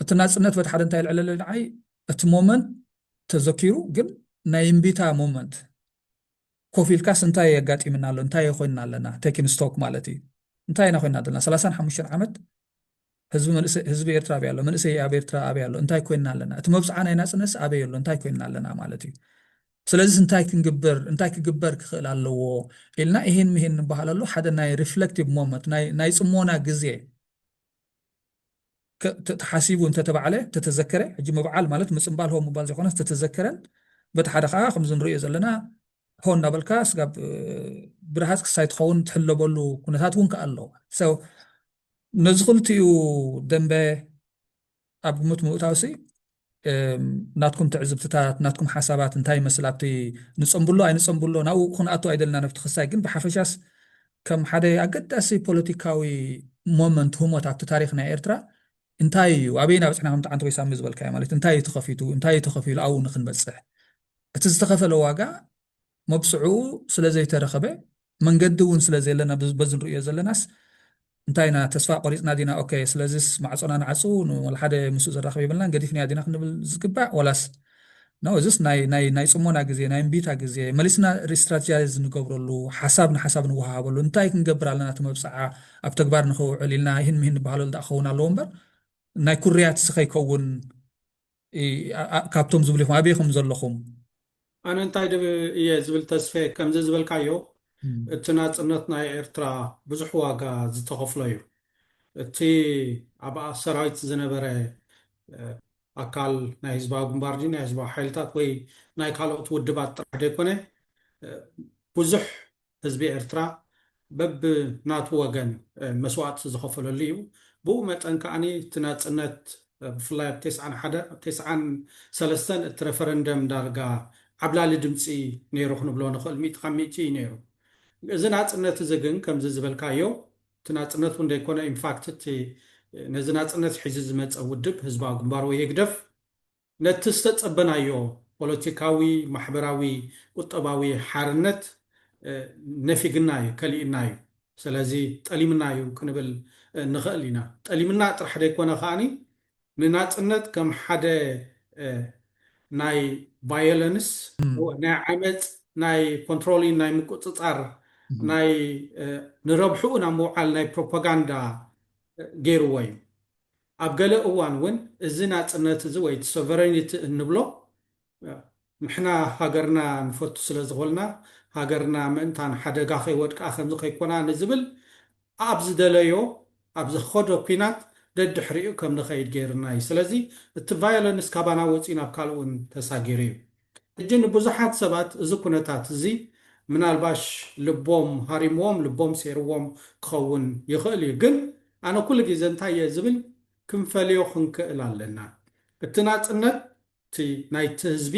እቲ ናጽነት በቲ ሓደ እንታይ ይልዕለለ ንዓይ እቲ ሞመንት ተዘኪሩ ግን ናይ እምቢታ ሞመንት ኮፍ ኢልካስ እንታይ የጋጢምና ኣሎ እንታይ ኮይንና ኣለና ቴኪን ስቶክ ማለት እዩ እንታይ ኢና ኮይንና ዘለና ሰላሳን ሓሙሽተን ዓመት ህዝቢ መንእሰይ ህዝቢ ኤርትራ ኣበይ ኣሎ መንእሰይ ኣብ ኤርትራ ኣበይ ኣሎ እንታይ ኮይንና ኣለና እቲ መብጽዓ ናይ ናጽነትስ ኣበይ ኣሎ እንታይ ኮይንና ኣለና ማለት እዩ ስለዚስ እንታይ ክንግብር እንታይ ክግበር ክኽእል ኣለዎ ኢልና ኢሂን ምሂን ንበሃለሉ ሓደ ናይ ሪፍለክቲቭ ሞመንት ናይ ጽሞና ግዜ ተሓሲቡ እንተተባዕለ ተተዘከረ ሕጂ ምብዓል ማለት ምጽምባል ሆ ምባል ዘይኮነስ ተተዘከረን በቲ ሓደ ከዓ ከምዚ ንሪኦ ዘለና ሆ እናበልካ ስጋብ ብርሃፅ ክሳይ ትኸውን ትሕለበሉ ኩነታት እውን ከዓ ኣሎ ነዚ ክልቲኡ ደንበ ኣብ ግምት ምእታውሲ ናትኩም ትዕዝብትታት ናትኩም ሓሳባት እንታይ ይመስል ኣብቲ ንፀምብሎ ኣይንፀምብሎ ናብኡ ክንኣቱ ኣይደልና ነብቲ ክሳይ ግን ብሓፈሻስ ከም ሓደ ኣገዳሲ ፖለቲካዊ ሞመንት ህሞት ኣብቲ ታሪክ ናይ ኤርትራ እንታይ እዩ ኣበይ ናብፅሕና ከምቲ ዓንተ ወይ ሳሚ ዝበልካዮ ማለት እንታይ እዩ ተኸፊቱ እንታይ እዩ ተኸፊሉ ኣብኡ ንክንበፅሕ እቲ ዝተኸፈለ ዋጋ መብጽዕኡ ስለ ዘይተረኸበ መንገዲ እውን ስለ ዘየለና በዚ ንርእዮ ዘለናስ እንታይ ኢና ተስፋ ቆሪጽና ዲና ኦኬ ስለዚስ ማዕጾና ንዓጹ ንወልሓደ ምስኡ ዘራኽብ የብልናን ገዲፍናዮ ዲና ክንብል ዝግባእ ወላስ ነው እዚስ ናይ ናይ ናይ ጽሞና ግዜ ናይ እምቢታ ግዜ መሊስና ሪስትራቴጃይዝ ንገብረሉ ሓሳብ ንሓሳብ ንወሃሃበሉ እንታይ ክንገብር ኣለና እቲ መብጽዓ ኣብ ተግባር ንኸውዕል ኢልና ይህን ምሂን ንበሃለሉ ደኣ ክኸውን ኣለዎ እምበር ናይ ኩርያት ስኸይከውን ካብቶም ዝብሉ ኢኹም ኣበይ ኢኹም ዘለኹም? ኣነ እንታይ ዶ እየ ዝብል ተስፌ ከምዚ ዝበልካዮ እቲ ናጽነት ናይ ኤርትራ ብዙሕ ዋጋ ዝተኸፍሎ እዩ እቲ ኣብ ሰራዊት ዝነበረ ኣካል ናይ ህዝባዊ ግንባር ድዩ ናይ ህዝባዊ ሓይልታት ወይ ናይ ካልኦት ውድባት ጥራሕ ዘይኮነ ብዙሕ ህዝቢ ኤርትራ በብ ናቱ ወገን መስዋእቲ ዝኸፈለሉ እዩ። ብኡ መጠን ከኣ እቲ ናጽነት ብፍላይ ኣብ ቴስዓን ሓደ ኣብ ቴስዓን ሰለስተን እቲ ረፈረንደም ዳርጋ ዓብላሊ ድምጺ ነይሩ ክንብሎ ንኽእል ሚእቲ ካብ ሚእቲ እዩ ነይሩ። እዚ ናጽነት እዚ ግን ከምዚ ዝበልካዮ እቲ ናጽነት እውን ዘይኮነ ኢንፋክት እቲ ነዚ ናጽነት ሒዙ ዝመጸ ውድብ ህዝባዊ ግንባር ወይ ህግደፍ፣ ነቲ ዝተጸበናዮ ፖለቲካዊ፣ ማሕበራዊ፣ ቁጠባዊ ሓርነት ነፊግና እዩ፣ ከሊኡና እዩ። ሰለዚ ጠሊምና እዩ ክንብል ንኸእል ኢና። ጠሊምና ጥራሕ ደይኮነ ከኣ ንናጽነት ከም ሓደ ናይ ቫዮለንስ፣ ናይ ዓመጽ፣ ናይ ኮንትሮሊን፣ ናይ ምቁጽጻር፣ ናይ ንረብሕኡ ናብ ምውዓል ናይ ፕሮፓጋንዳ ገይርዎ እዩ። ኣብ ገለ እዋን እውን እዚ ናጽነት እዚ ወይ እቲ ሶቨረኒቲ እንብሎ ንሕና ሃገርና ንፈቱ ስለ ዝኾንና ሃገርና ምእንታን ሓደጋ ከይወድቃ ከምዚ ከይኮና ንዝብል ኣብ ዝደለዮ ኣብ ዝኸዶ ኩናት ደድሕሪኡ ከም ንኸይድ ገይሩና እዩ። ስለዚ እቲ ቫዮለንስ ካባና ወጺኡ ናብ ካልእ እውን ተሳጊሩ እዩ። ሕጂ ንብዙሓት ሰባት እዚ ኩነታት እዚ ምናልባሽ ልቦም ሃሪምዎም ልቦም ሴርዎም ክኸውን ይኽእል እዩ ግን ኣነ ኩሉ ግዜ እንታይ እየ ዝብል ክንፈልዮ ክንክእል ኣለና እቲ ናጽነት እቲ ናይቲ ህዝቢ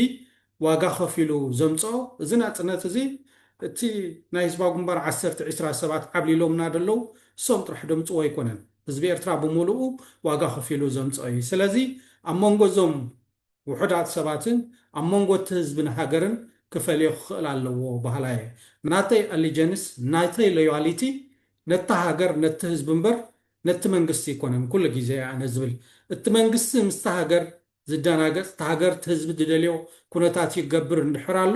ዋጋ ከፊሉ ዘምጽኦ እዚ ናጽነት እዚ እቲ ናይ ህዝባዊ ግንባር ዓሰርተ ዕስራ ሰባት ዓብሊሎምና ደለዉ እሶም ጥራሕ ደምጽዎ ኣይኮነን ህዝቢ ኤርትራ ብምሉኡ ዋጋ ከፊሉ ዘምጽኦ እዩ ስለዚ ኣብ መንጎ እዞም ውሑዳት ሰባትን ኣብ መንጎ እቲ ህዝብን ሃገርን ክፈልዮ ክኽእል ኣለዎ በሃላይ እየ። ናተይ ኣሊጀንስ፣ ናተይ ሎያሊቲ ነታ ሃገር ነቲ ህዝቢ እምበር ነቲ መንግስቲ ኣይኮነን ኩሉ ግዜ እየ ኣነ ዝብል። እቲ መንግስቲ ምስታ ሃገር ዝደናገጽ፣ እታ ሃገር እቲ ህዝቢ ዝደልዮ ኩነታት ይገብር እንድሕር ኣሎ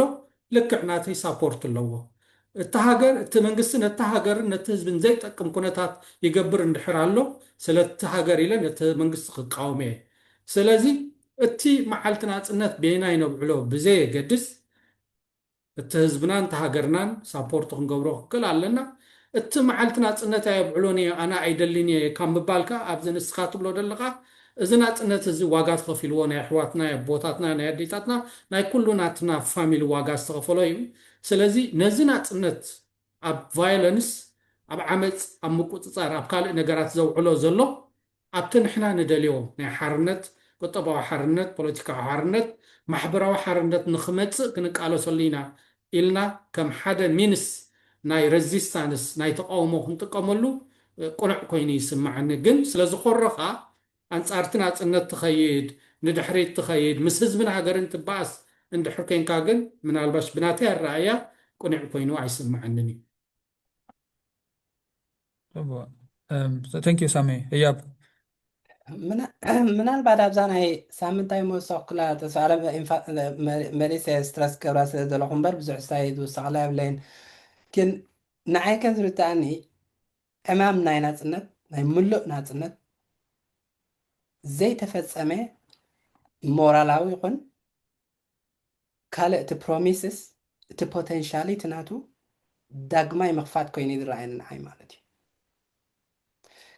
ልክዕ ናተይ ሳፖርት ኣለዎ እታ ሃገር እቲ መንግስቲ ነታ ሃገርን ነቲ ህዝብን ዘይጠቅም ኩነታት ይገብር እንድሕር ኣሎ ስለቲ ሃገር ኢለ ነቲ መንግስቲ ክቃወም እየ ስለዚ እቲ መዓልቲ ናጽነት በየናይ ነብዕሎ ብዘየገድስ እቲ ህዝብናን እቲ ሃገርናን ሳፖርት ክንገብሮ ክንክእል ኣለና እቲ መዓልቲ ናጽነት ኣየብዕሎን እየ ኣነ ኣይደልን እየ ካብ ምባል ከኣ ኣብዚ ንስካ ትብሎ ደለካ እዚ ናጽነት እዚ ዋጋ ተኸፊልዎ ናይ ኣሕዋትና የቦታትና ናይ ኣዴታትና ናይ ኩሉ ናትና ፋሚሊ ዋጋ ዝተኸፈሎ እዩ ስለዚ ነዚ ናጽነት ኣብ ቫዮለንስ ኣብ ዓመጽ ኣብ ምቁጽጻር ኣብ ካልእ ነገራት ዘውዕሎ ዘሎ ኣብቲ ንሕና ንደልዮ ናይ ሓርነት ቁጠባዊ ሓርነት ፖለቲካዊ ሓርነት ማሕበራዊ ሓርነት ንኽመጽእ ክንቃለሰሉ ኢና ኢልና ከም ሓደ ሚንስ ናይ ረዚስታንስ ናይ ተቓውሞ ክንጥቀመሉ ቅኑዕ ኮይኑ ይስመዓኒ። ግን ስለ ዝኾረኻ ኣንጻርቲ ናጽነት ትኸይድ፣ ንድሕሪት ትኸይድ፣ ምስ ህዝብን ሃገርን ትበኣስ እንድሕር ኮንካ ግን ምናልባሽ ብናተይ ኣረኣእያ ቅኑዕ ኮይኑ ኣይስመዓንን እዩ። ተንክ ዩ ሳሚ ህያብ ምናልባት ኣብዛ ናይ ሳምንታይ መወሰኽኩላ ተስፋለ መሊሰ ስትረስ ገብራ ስለ ዘለኹ እምበር ብዙሕ ስታይ ዝውሰኽላ የብለይን ግን ንዓይ ከም ዝርትኣኒ ዕማም ናይ ናፅነት ናይ ምሉእ ናፅነት ዘይተፈፀመ ሞራላዊ ይኹን ካልእ እቲ ፕሮሚስስ እቲ ፖተንሻሊ እቲ ናቱ ዳግማይ ምኽፋት ኮይኑ እዩ ዝረኣየኒ ንዓይ ማለት እዩ።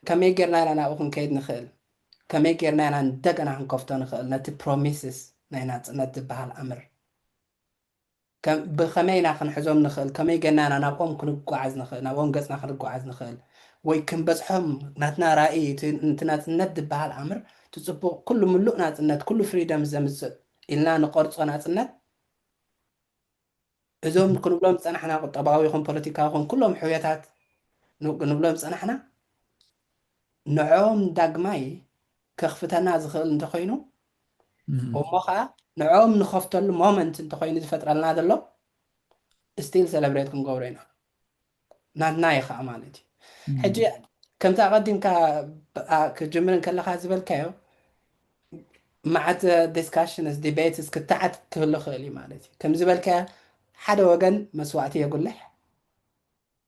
ከመይ ጌርና ኢና ናብኡ ክንከይድ ንኽእል? ከመይ ጌርና ኢና እንደገና ክንከፍቶ ንኽእል ነቲ ፕሮሚስስ ናይ ናጽነት ዝበሃል ኣምር? ብኸመይ ኢና ክንሕዞም ንኽእል? ከመይ ጌርና ኢና ናብኦም ክንጓዓዝ ንኽእል? ናብኦም ገጽና ክንጓዓዝ ንኽእል? ወይ ክንበጽሖም ናትና ራኢ እቲ ናጽነት ዝበሃል ኣምር እቲ ጽቡቕ ኩሉ ምሉእ ናጽነት ኩሉ ፍሪደምስ ዘምጽእ ኢልና ንቐርጾ ናጽነት፣ እዞም ክንብሎም ዝጸናሕና ቁጠባዊ ይኹን ፖለቲካዊ ይኹን ኩሎም ሕውየታት ንብሎም ዝጸናሕና ንዕኦም ዳግማይ ከኽፍተና ዝኽእል እንተኾይኑ እሞ ኸኣ ንዕኦም ንኸፍተሉ ሞመንት እንተኾይኑ ዝፈጥረልና ዘሎ ስቲል ሰለብሬት ክንገብሮ ኢና። ናትና እዩ ከኣ ማለት እዩ ሕጂ ከምቲ ኣቐዲምካ ክጅምር እንከለኻ ዝበልካዮ መዓት ዲስካሽንስ ዲቤትስ ክትዓት ክህሉ ክእል እዩ ማለት እዩ ከም ዝበልካዮ ሓደ ወገን መስዋእቲ የጉልሕ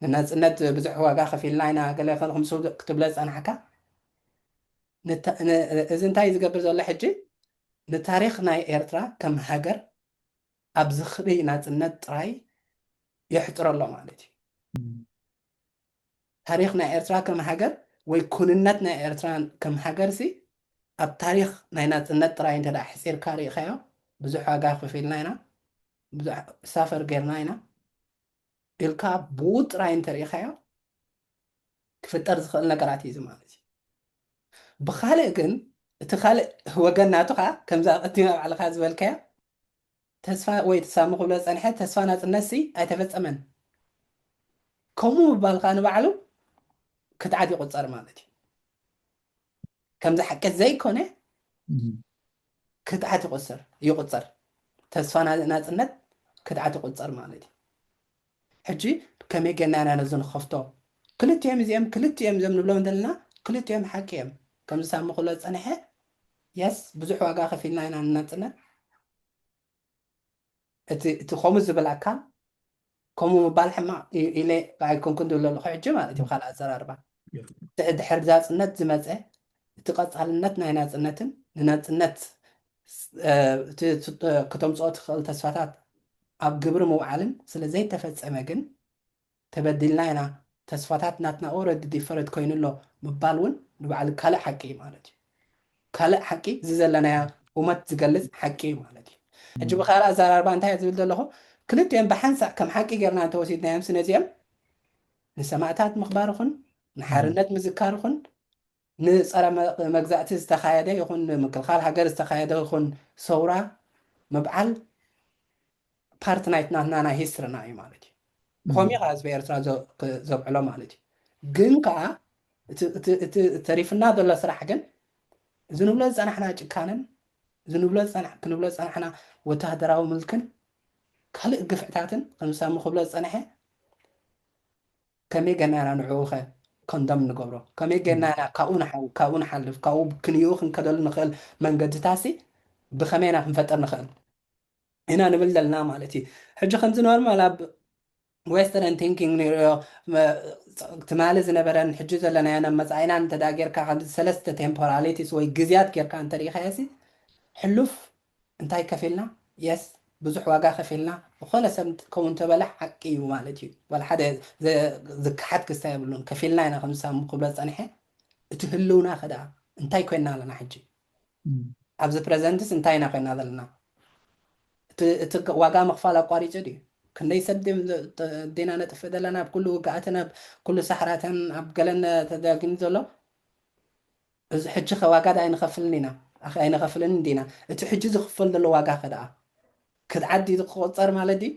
ንናፅነት ብዙሕ ዋጋ ከፊልና ኢና ገለ ክንኹምሱ ክትብሎ ዝፀናሕካ እዚ እንታይ ዝገብር ዘሎ ሕጂ ንታሪክ ናይ ኤርትራ ከም ሃገር ኣብ ዝኽሪ ናጽነት ጥራይ የሕጽሮ ኣሎ ማለት እዩ። ታሪኽ ናይ ኤርትራ ከም ሃገር ወይ ኩንነት ናይ ኤርትራ ከም ሃገርሲ ኣብ ታሪኽ ናይ ናጽነት ጥራይ እንተ ኣሕጺርካ ርኢኻዮ ብዙሕ ዋጋ ከፊልና ኢና፣ ብዙሕ ሳፈር ጌርና ኢና ኢልካ ብኡ ጥራይ እንተ ርኢኻዮ ክፍጠር ዝኽእል ነገራት እዩ እዚ ማለት እዩ። ብኻልእ ግን እቲ ካልእ ወገን ናቱ ከኣ ከምዛ ኣቐዲምካ ባዕልኻ ዝበልካያ ተስፋ ወይ ትሳሚ ክብሎ ዝጸንሐ ተስፋ ናጽነትሲ ኣይተፈጸመን ከምኡ ምባል ከኣ ንባዕሉ ክትዓት ይቑጸር ማለት እዩ ከምዚ ሓቂ ዘይኮነ ክትዓት ይቁጽር ይቁጸር ተስፋ ናጽነት ክትዓት ይቁጸር ማለት እዩ ሕጂ ከመይ ጌርና ኢና ነዚ ንኸፍቶ ክልቲኦም እዚኦም ክልቲኦም እዚኦም ንብሎም ዘለና ክልቲኦም ሓቂ እዮም ከምዚ ሳሚ ክብሎ ዝጸንሐ የስ ብዙሕ ዋጋ ከፊልና ኢና ንናጽነት እቲ እቲ ከምኡ ዝብላካ ከምኡ ምባል ሕማቕ ኢለ ኣይኮንኩን ዝብሎ ኣለኹ ሕጂ ማለት እዩ ካልእ ኣዘራርባ ድሕሪ ድሕሪ ናጽነት ዝመጸ እቲ ቀጻልነት ናይ ናጽነትን ንናጽነት ክተምጽኦ ትኽእል ተስፋታት ኣብ ግብሪ ምውዓልን ስለ ዘይተፈጸመ ግን ተበዲልና ኢና፣ ተስፋታት ናትና ኦረዲ ዲፈረድ ኮይኑ ኣሎ ምባል ውን ንባዕሉ ካልእ ሓቂ እዩ ማለት እዩ። ካልእ ሓቂ እዚ ዘለናዮ እውመት ዝገልጽ ሓቂ እዩ ማለት እዩ። ሕጂ ብካልእ ኣዘራርባ እንታይ እየ ዝብል ዘለኹ ክልቲኦም ብሓንሳእ ከም ሓቂ ጌርና እንተወሲድናዮምሲ ነዚኦም ንሰማእታት ምኽባር ኹን ንሓርነት ምዝካር ኹን ንጸረ መግዛእቲ ዝተኻየደ ይኹን ንምክልኻል ሃገር ዝተኻየደ ይኹን ሰውራ ምብዓል ፓርት ናይት ናትና ናይ ሂስትርና እዩ ማለት እዩ። ብኸምኡ እዩ ከዓ ህዝቢ ኤርትራ ዘብዕሎ ማለት እዩ። ግን ከዓ እቲ ተሪፍና ዘሎ ስራሕ ግን እዚ ንብሎ ዝጸናሕና ጭካነን እዚ ንብሎ ክንብሎ ዝጸናሕና ወተሃደራዊ ምልክን ካልእ ግፍዕታትን ከምሳሙ ክብሎ ዝጸንሐ ከመይ ጌርና ኢና ንዕኡኸ ኮንደም እንገብሮ? ከመይ ጌርና ኢና ካብኡ ንሓዊ፣ ካብኡ ንሓልፍ፣ ካብኡ ክንየኡ ክንከደሉ ንኽእል መንገድታትሲ ብኸመይ ኢና ክንፈጥር ንኽእል? ኢና ንብል ዘለና ማለት እዩ። ሕጂ ከምዚ ኖርማል ኣብ ዌስተርን ቲንኪንግ ንርእዮ ትማሊ ዝነበረን ሕጂ ዘለናዮን ኣብ መጻኢናን እንተ ጌርካ ከምዚ ሰለስተ ቴምፖራሊቲስ ወይ ግዜያት ጌርካ እንተ ርኢኻዮሲ ሕሉፍ እንታይ ከፊልና yes ብዙሕ ዋጋ ከፊልና ዝኾነ ሰብ እንትትከውን ተበላ ሓቂ እዩ ማለት እዩ ዋላ ሓደ ዝከሓድ ክስታይ የብሉን ከፊልና ኢና ከምዚ ሳሙ ክብሎ ዝጸንሐ እቲ ህልውና ከደኣ እንታይ ኮይና ኣለና ሕጂ ኣብዚ ፕረዘንትስ እንታይ ኢና ኮይና ዘለና እቲ ዋጋ ምኽፋል ኣቋሪጹ ድዩ ክንደይ ሰብ ዴና ነጥፍእ ዘለና ኣብ ኩሉ ውግኣትን ኣብ ኩሉ ሳሕራትን ኣብ ገለን ተዳጊሙ ዘሎ እዚ ሕጂኸ ዋጋ ድኣ ኣይንኸፍልን ኢና? ኣኸ ኣይንኸፍልን ዲና? እቲ ሕጂ ዝኽፈል ዘሎ ዋጋኸ ድኣ ክድዓት ድዩ ክቑጸር ማለት ድዩ?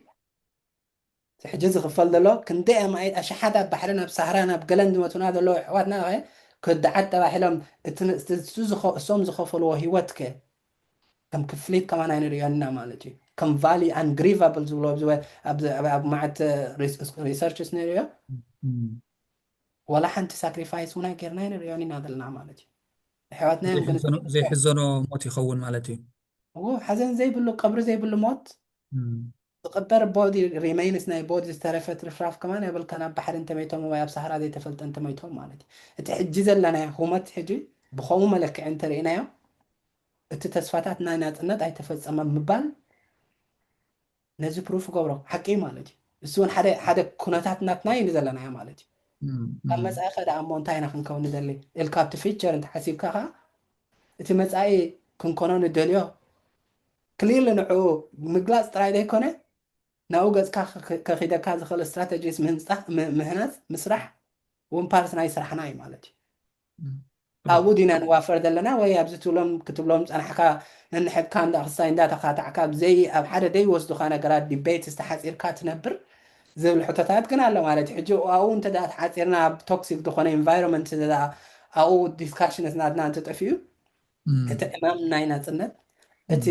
እቲ ሕጂ ዝኽፈል ዘሎ ክንደይ ኣማኢት ኣሽሓት ኣብ ባሕርን ኣብ ሳህራን ኣብ ገለን ዝመቱና ዘለዉ ኣሕዋትናኸ ክድዓት ተባሂሎም እቲ እሶም ዝኸፈልዎ ህይወትከ ከም ክፍሊት ከማን ኣይንርእዮን ኢና ማለት እዩ። ከም ቫልዩ ኣንግሪቫብል ዝብልዎ ኣብ መዓት ሪሰርችስ ነይሩዮ። ዋላ ሓንቲ ሳክሪፋይስ እውን ኣይጌርና ኣይንሪኦን ኢና ዘለና ማለት እዩ ኣሕዋትናዮም ግን ዘይሕዘኖ ሞት ይኸውን ማለት እዩ እዎ ሓዘን ዘይብሉ ቀብሪ ዘይብሉ ሞት ዝቅበር ቦዲ ሪሜይንስ ናይ ቦዲ ዝተረፈ ትርፍራፍ ከማን የብልካን ኣብ ባሕሪ እንተመይቶም ወይ ኣብ ሳህራ ዘይተፈልጠ እንተመይቶም ማለት እዩ እቲ ሕጂ ዘለናዮ ሁመት ሕጂ ብከምኡ መለክዒ እንተርእናዮ እቲ ተስፋታት ናይ ናፅነት ኣይተፈፀመም ምባል ነዚ ፕሩፍ ክገብሮ ሓቂ እዩ ማለት እዩ። እሱ እውን ሓደ ሓደ ኩነታት ናትና እዩ ንዘለናዮ ማለት እዩ። ኣብ መጻኢ ከ ደኣ እሞ እንታይ ኢና ክንከውን ንደሊ እልካ ኣብቲ ፊቸር እንተሓሲብካ ከኣ እቲ መጻኢ ክንኮኖ ንደልዮ ክሊርሊ ንዕኡ ምግላጽ ጥራይ ዘይኮነ ናብኡ ገጽካ ከኺደካ ዝኽእል ስትራተጂስ ምህንጻ ምህናጽ ምስራሕ እውን ፓርት ናይ ስራሕና እዩ ማለት እዩ። ኣብኡ ዲና ንዋፈር ዘለና ወይ ኣብዚ ትብሎም ክትብሎም ዝጸናሕካ ነንሕድካ እንዳ ክስታይ እንዳ ተኻታዕካ ብዘይ ኣብ ሓደ ዘይወስዱካ ነገራት ዲቤትስ ተሓጺርካ ትነብር ዝብል ሕቶታት ግን ኣሎ ማለት እዩ ሕጂ ኣብኡ እንተ ተሓጺርና ኣብ ቶክሲክ ዝኾነ ኢንቫይሮንመንት እንተ ኣብኡ ዲስካሽንስ ናትና እንተ ጠፊኡ እቲ ዕማም ናይ ናጽነት እቲ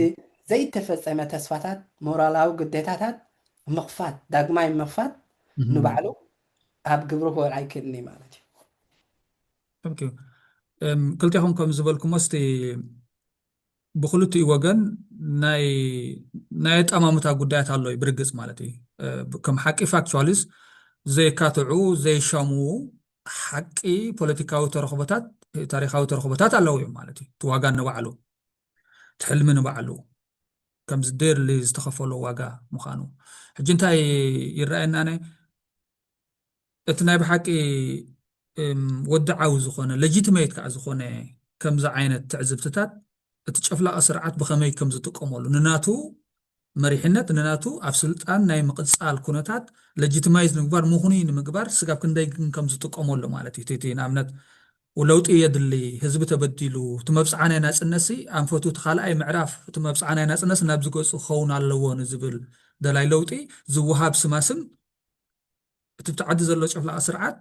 ዘይተፈጸመ ተስፋታት ሞራላዊ ግዴታታት ምኽፋት ዳግማይ ምኽፋት ንባዕሉ ኣብ ግብሪ ክወል ኣይክእልን'ዩ ማለት እዩ። Thank you ክልቴኹም ከም ዝበልኩሞ እስቲ ብክልቲኡ ወገን ናይ ናይ ኣጠማምታ ጉዳያት ኣሎ እዩ ብርግጽ ማለት እዩ ከም ሓቂ ፋክቹዋሊስ ዘይካትዑ ዘይሻምዉ ሓቂ ፖለቲካዊ ተረኽቦታት ታሪኻዊ ተረኽቦታት ኣለዉ እዮም ማለት እዩ እቲ ዋጋ ንባዕሉ እቲ ሕልሚ ንባዕሉ ከምዚ ደርሊ ዝተኸፈሎ ዋጋ ምዃኑ ሕጂ እንታይ ይረኣየና ናይ እቲ ናይ ብሓቂ ወድዓዊ ዝኾነ ለጂትመት ከዓ ዝኾነ ከምዚ ዓይነት ትዕዝብትታት እቲ ጨፍላቂ ስርዓት ብኸመይ ከም ዝጥቀመሉ ንናቱ መሪሕነት ንናቱ ኣብ ስልጣን ናይ ምቕጻል ኩነታት ለጂትማይዝ ንምግባር ምኽኑይ ንምግባር ስጋብ ክንደይ ግን ከም ዝጥቀመሉ ማለት እዩ እቲ ንኣብነት ለውጢ የድሊ ህዝቢ ተበዲሉ እቲ መብጽዓ ናይ ናጽነትሲ ኣንፈቱ እቲ ካልኣይ ምዕራፍ እቲ መብጽዓ ናይ ናጽነት ናብዚ ገጹ ክኸውን ኣለዎ ንዝብል ደላይ ለውጢ ዝወሃብ ስማስም እቲ ብቲ ዓዲ ዘሎ ጨፍላቒ ስርዓት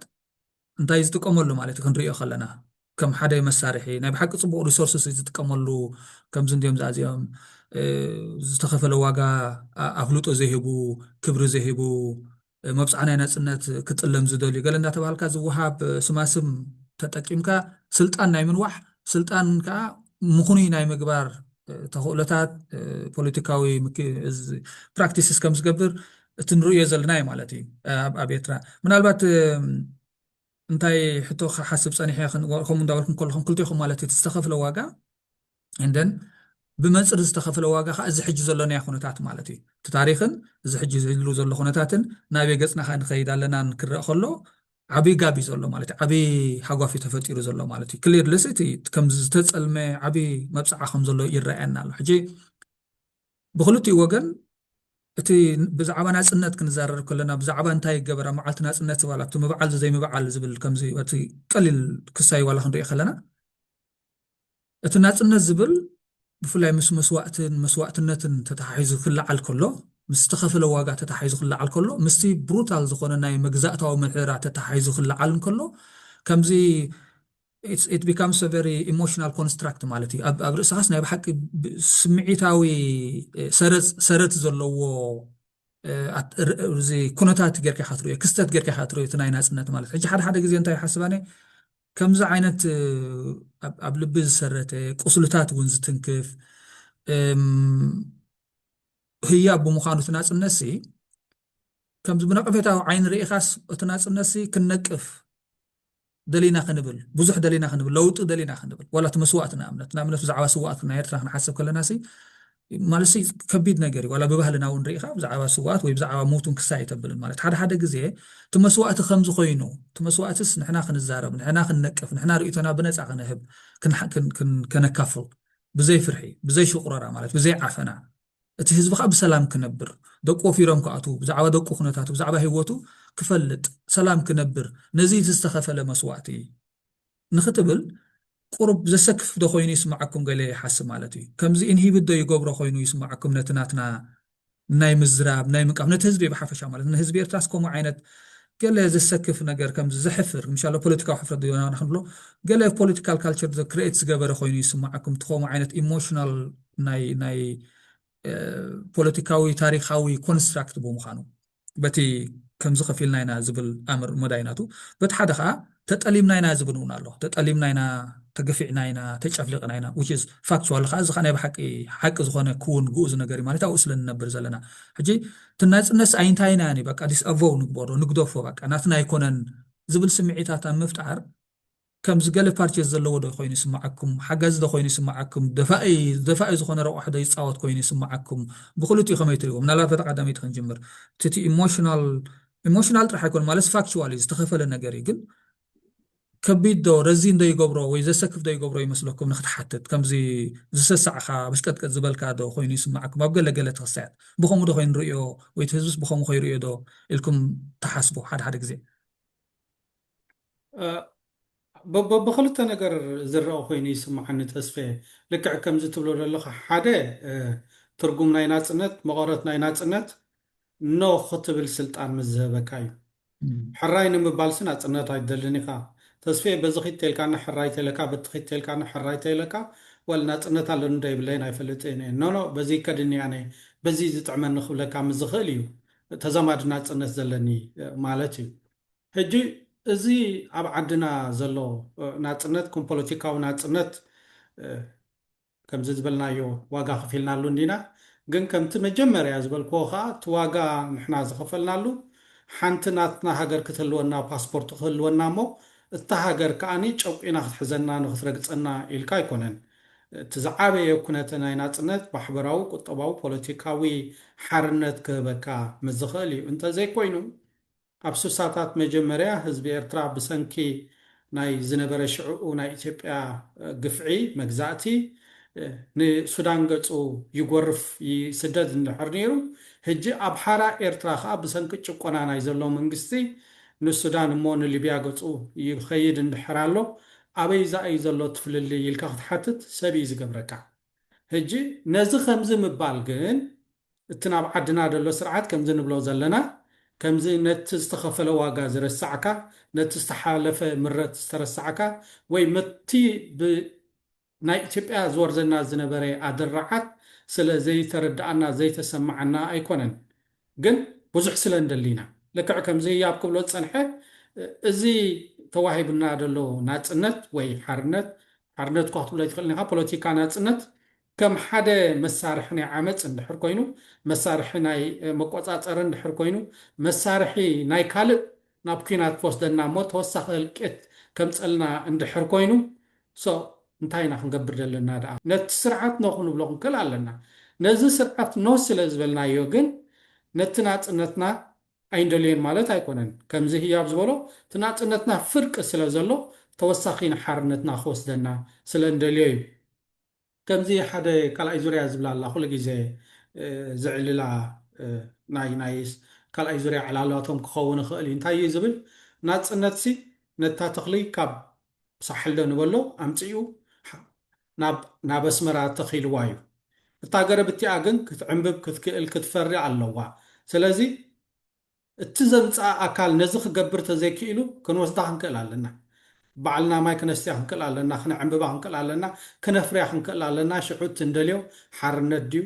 እንታይ ዝጥቀመሉ ማለት እዩ ክንሪኦ ከለና ከም ሓደ መሳርሒ ናይ ብሓቂ ጽቡቅ ሪሶርስስ ዝጥቀመሉ ከምዚ እንዲዮም ዛዚኦም ዝተኸፈለ ዋጋ ኣፍልጦ ዘይህቡ ክብሪ ዘይህቡ መብጽዓ ናይ ናጽነት ክጥለም ዝደልዩ ገለ እንዳተባሃልካ ዝወሃብ ስማስም ተጠቂምካ ስልጣን ናይ ምንዋሕ ስልጣን ከዓ ምኹኑይ ናይ ምግባር ተኽእሎታት ፖለቲካዊ ፕራክቲስስ ከም ዝገብር እቲ ንርእዮ ዘለና እዩ ማለት እዩ ኣብ ኤርትራ ምናልባት እንታይ ሕቶ ክሓስብ ፀኒሐ ከምኡ እንዳበልኩም ከለኹም ክልቴኹም ማለት እቲ ዝተኸፍለ ዋጋ እንደን ብመንፅር ዝተኸፍለ ዋጋ ከዓ እዚ ሕጂ ዘሎናዮ ኩነታት ማለት እዩ እቲ ታሪክን እዚ ሕጂ ዝህሉ ዘሎ ኩነታትን ናበይ ገፅና ከዓ ንኸይድ ኣለናን ክረአ ከሎ ዓብይ ጋብ እዩ ዘሎ ማለት እዩ ዓብይ ሃጓፍ እዩ ተፈጢሩ ዘሎ ማለት እዩ ክሊርለስ እቲ ከም ዝተፀልመ ዓብይ መብፅዓ ከም ዘሎ ይረኣየና ኣሎ ሕጂ ብክልቲኡ ወገን እቲ ብዛዕባ ናጽነት ክንዛረር ከለና ብዛዕባ እንታይ ይገበር ኣብ መዓልቲ ናጽነት ዝበል ኣብቲ ምብዓል ዘይምብዓል ዝብል ከምዚ እቲ ቀሊል ክሳይ ዋላ ክንሪኦ ከለና እቲ ናጽነት ዝብል ብፍላይ ምስ መስዋእትን መስዋእትነትን ተተሓሒዙ ክለዓል ከሎ ምስ ዝተኸፈለ ዋጋ ተተሓሒዙ ክለዓል ከሎ ምስቲ ብሩታል ዝኾነ ናይ መግዛእታዊ ምሕደራ ተተሓሒዙ ክለዓል እንከሎ ከምዚ ኢት ቢካምስ አ ቨሪ ኢሞሽናል ኮንስትራክት ማለት እዩ። ኣብ ርእስኻስ ናይ ብሓቂ ስምዒታዊ ሰረት ዘለዎ እዚ ኩነታት ጌርካ ኢኻ ትርእዮ ክስተት ጌርካ ኢኻ ትርእዮ እቲ ናይ ናፅነት ማለት ሕጂ ሓደ ሓደ ግዜ እንታይ ይሓስብ ኣነ ከምዚ ዓይነት ኣብ ልቢ ዝሰረተ ቁስልታት እውን ዝትንክፍ ህያብ ብምዃኑ እቲ ናፅነት ሲ ከምዚ ብነቐፌታዊ ዓይኒ ርኢኻስ እቲ ናፅነት ሲ ክንነቅፍ ደሊና ክንብል ብዙሕ ደሊና ክንብል ለውጢ ደሊና ክንብል ዋላ እቲ መስዋእቲ ንኣብነት ንኣብነት ብዛዕባ ስዋኣት ናይ ኤርትራ ክንሓሰብ ከለና ሲ ማለት ሲ ከቢድ ነገር እዩ ዋላ ብባህልና እውን ርኢኻ ብዛዕባ ስዋኣት ወይ ብዛዕባ ሞቱን ክሳ ኣይተብልን ማለት ሓደ ሓደ ግዜ እቲ መስዋእቲ ከምዚ ኮይኑ እቲ መስዋእትስ ንሕና ክንዛረብ ንሕና ክንነቅፍ ንሕና ርእቶና ብነፃ ክንህብ ከነካፍል ብዘይ ፍርሒ ብዘይ ሽቁረራ ማለት ብዘይ ዓፈና እቲ ህዝቢ ከኣ ብሰላም ክነብር፣ ደቁ ወፊሮም ክኣትዉ፣ ብዛዕባ ደቁ ኩነታቱ፣ ብዛዕባ ህይወቱ ክፈልጥ፣ ሰላም ክነብር፣ ነዚ እቲ ዝተኸፈለ መስዋእቲ ንኽትብል ቁሩብ ዘሰክፍ ዶ ኮይኑ ይስምዓኩም ገለ ይሓስብ ማለት እዩ ከምዚ ኢንሂብት ዶ ይገብሮ ኮይኑ ይስምዓኩም ነቲ ናትና ናይ ምዝራብ ናይ ምንቃፍ ነቲ ህዝቢ ብሓፈሻ ማለት ንህዝቢ ኤርትራስ ከምኡ ዓይነት ገለ ዘሰክፍ ነገር ከምዚ ዘሕፍር ምሻሎ ፖለቲካዊ ሕፍረት ዶና ክንብሎ ገለ ፖለቲካል ካልቸር ክሬኤት ዝገበረ ኮይኑ ይስምዓኩም እቲ ከምኡ ዓይነት ኢሞሽናል ናይ ፖለቲካዊ ታሪኻዊ ኮንስትራክት ብምዃኑ በቲ ከምዚ ከፊልና ኢና ዝብል ኣምር መዳይ ናቱ በቲ ሓደ ከዓ ተጠሊምና ኢና ዝብል እውን ኣሎ ተጠሊምና ኢና ተገፊዕና ኢና ተጨፍሊቕና ኢና ዊች ኢዝ ፋክቹዋል ከዓ እዚ ከዓ ናይ ብሓቂ ሓቂ ዝኾነ ክውን ግኡዝ ነገር እዩ ማለት ኣብኡ ስለ ንነብር ዘለና ሕጂ እቲ ናፅነት ኣይንታይና ያኒ በቃ ዲስኣቮው ንግበሮ ንግደፎ በቃ ናትና ኣይኮነን ዝብል ስምዒታት ኣብ ምፍጣር ከምዚ ገለ ፓርቸስ ዘለዎ ዶ ኮይኑ ይስማዓኩም ሓጋዚ ዶ ኮይኑ ይስማዓኩም ደፋኢ ደፋኢ ዝኮነ ረቋሒ ዶ ይጻወት ኮይኑ ይስማዓኩም ብክልቲኡ ከመይ ትሪእዎ ምናልባት በታ ቀዳመይቲ ክንጅምር እቲ ኢሞሽናል ኢሞሽናል ጥራሕ ኣይኮነ ማለት ፋክቹዋል እዩ ዝተኸፈለ ነገር እዩ ግን ከቢድ ዶ ረዚን ዶ ይገብሮ ወይ ዘሰክፍ ዶ ይገብሮ ይመስለኩም ንክትሓትት ከምዚ ዝሰሳዕካ በሽቀጥቀጥ ዝበልካ ዶ ኮይኑ ይስማዓኩም ኣብ ገለ ገለ ተክሳያት ብከምኡ ዶ ኮይኑ ንርእዮ ወይ ህዝብስ ብከምኡ ከይርእዮ ዶ ኢልኩም ተሓስቡ ሓደ ሓደ ግዜ በብክልተ ነገር ዝረኣ ኮይኑ ይስመዓኒ ተስፌ ልክዕ ከምዚ ትብሎ ዘለኻ ሓደ ትርጉም ናይ ናጽነት መቐረት ናይ ናጽነት ኖ ክትብል ስልጣን ምስ ዝህበካ እዩ ሕራይ ንምባልሲ ናጽነት ኣይትደልን ኢኻ ተስፌ በዚ ኺድ ተልካኒ ሕራይ ተለካ በቲ ኺድ ተልካኒ ሕራይ ተለካ ወል ናጽነት ኣለኒ ዶ ይብለይን ኣይፈልጥን እየ ኖ ኖ በዚ ይከድኒ ኣነ በዚ ዝጥዕመኒ ክብለካ ምስ ዝኽእል እዩ ተዛማዲ ናጽነት ዘለኒ ማለት እዩ። ሕጂ እዚ ኣብ ዓድና ዘሎ ናጽነት ከም ፖለቲካዊ ናጽነት ከምዚ ዝበልናዮ ዋጋ ከፊልናሉ እንዲና ግን ከምቲ መጀመርያ ዝበልክዎ ከኣ እቲ ዋጋ ንሕና ዝኸፈልናሉ ሓንቲ ናትና ሃገር ክትህልወና ፓስፖርት ክህልወና እሞ እታ ሃገር ከኣ ጨቊና ክትሕዘና ንክትረግጸና ኢልካ ኣይኮነን እቲ ዝዓበየ ኩነተ ናይ ናጽነት ማሕበራዊ ቁጠባዊ ፖለቲካዊ ሓርነት ክህበካ ምስ ዝኽእል እዩ እንተዘይኮይኑ ኣብ ስሳታት መጀመርያ ህዝቢ ኤርትራ ብሰንኪ ናይ ዝነበረ ሽዕኡ ናይ ኢትዮጵያ ግፍዒ መግዛእቲ ንሱዳን ገጹ ይጎርፍ ይስደድ እንድሕር ነይሩ ህጂ ኣብ ሓራ ኤርትራ ከኣ ብሰንኪ ጭቆና ናይ ዘሎ መንግስቲ ንሱዳን እሞ ንሊብያ ገጹ ይኸይድ እንድሕር ኣሎ ኣበይዛ እዩ ዘሎ እቲ ፍልልይ ኢልካ ክትሓትት ሰብ እዩ ዝገብረካ። ህጂ ነዚ ከምዚ ምባል ግን እቲ ናብ ዓድና ደሎ ስርዓት ከምዚ ንብሎ ዘለና ከምዚ ነቲ ዝተኸፈለ ዋጋ ዝረሳዕካ ነቲ ዝተሓለፈ ምረት ዝተረሳዕካ ወይ መቲ ብ ናይ ኢትዮጵያ ዝወርደና ዝነበረ ኣደራዓት ስለ ዘይተረዳኣና ዘይተሰማዓና ኣይኮነን ግን ብዙሕ ስለ እንደሊ ኢና። ልክዕ ከምዚ ህያብ ክብሎ ዝጸንሐ እዚ ተዋሂቡና ዘሎ ናጽነት ወይ ሓርነት፣ ሓርነት እኳ ክትብሎ ኣይትኽእልን ኢኻ፣ ፖለቲካ ናጽነት ከም ሓደ መሳርሒ ናይ ዓመጽ እንድሕር ኮይኑ፣ መሳርሒ ናይ መቆጻጸሪ እንድሕር ኮይኑ፣ መሳርሒ ናይ ካልእ ናብ ኩናት ክወስደና እሞ ተወሳኺ ህልቂት ከምጸልና እንድሕር ኮይኑ so እንታይ ኢና ክንገብር ዘለና ደኣ ነቲ ስርዓት no ክንብሎ ክንክል ኣለና ነዚ ስርዓት no ስለ ዝበልናዮ ግን ነቲ ናጽነትና ኣይንደልዮን ማለት ኣይኮነን ከምዚ ህያብ ዝበሎ እቲ ናጽነትና ፍርቂ ስለ ዘሎ ተወሳኺ ንሓርነትና ክወስደና ስለ እንደልዮ እዩ ከምዚ ሓደ ካልኣይ ዙርያ ዝብላ ኣላ ኩሉ ግዜ ዝዕልላ ናይ ናይ ካልኣይ ዙርያ ዕላላቶም ክኸውን ይኽእል እዩ እንታይ እዩ ዝብል ናጽነትሲ ነታ ተኽሊ ካብ ሳሕልዶ ንበሎ ኣምጺኡ ናብ ናብ ኣስመራ ተኺልዋ እዩ እታ ገረብ እቲኣ ግን ክትዕምብብ ክትክእል ክትፈሪ ኣለዋ ስለዚ እቲ ዘምጽኣ ኣካል ነዚ ክገብር ተዘይክኢሉ ክንወስዳ ክንክእል ኣለና። ባዕልና ማይ ክነስትያ ክንክእል ኣለና፣ ክነዕንብባ ክንክእል ኣለና፣ ክነፍርያ ክንክእል ኣለና፣ ሽዑ እቲ እንደልዮ ሓርነት ድዩ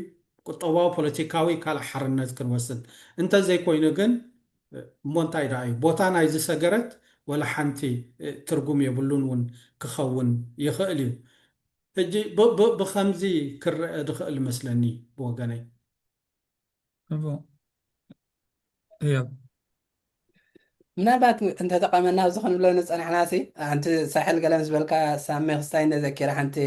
ቁጠባዊ ፖለቲካዊ ካልእ ሓርነት ክንወስድ። እንተዘይኮይኑ ግን እሞ እንታይ ደኣ እዩ ቦታ ናይዚ ሰገረት ወላ ሓንቲ ትርጉም የብሉን እውን ክኸውን ይኽእል እዩ። ሕጂ ብከምዚ ክረኣ ዝኽእል እመስለኒ ብወገነይ። Tá bom. Yep. ምናልባት እንተተቐመና ኣብዚ ክንብሎ ንፀናሕና ሲ ሓንቲ ሳሕል ገለ ምስ በልካ ሳሚ ክስታይ እነዘኪረ ሓንቲ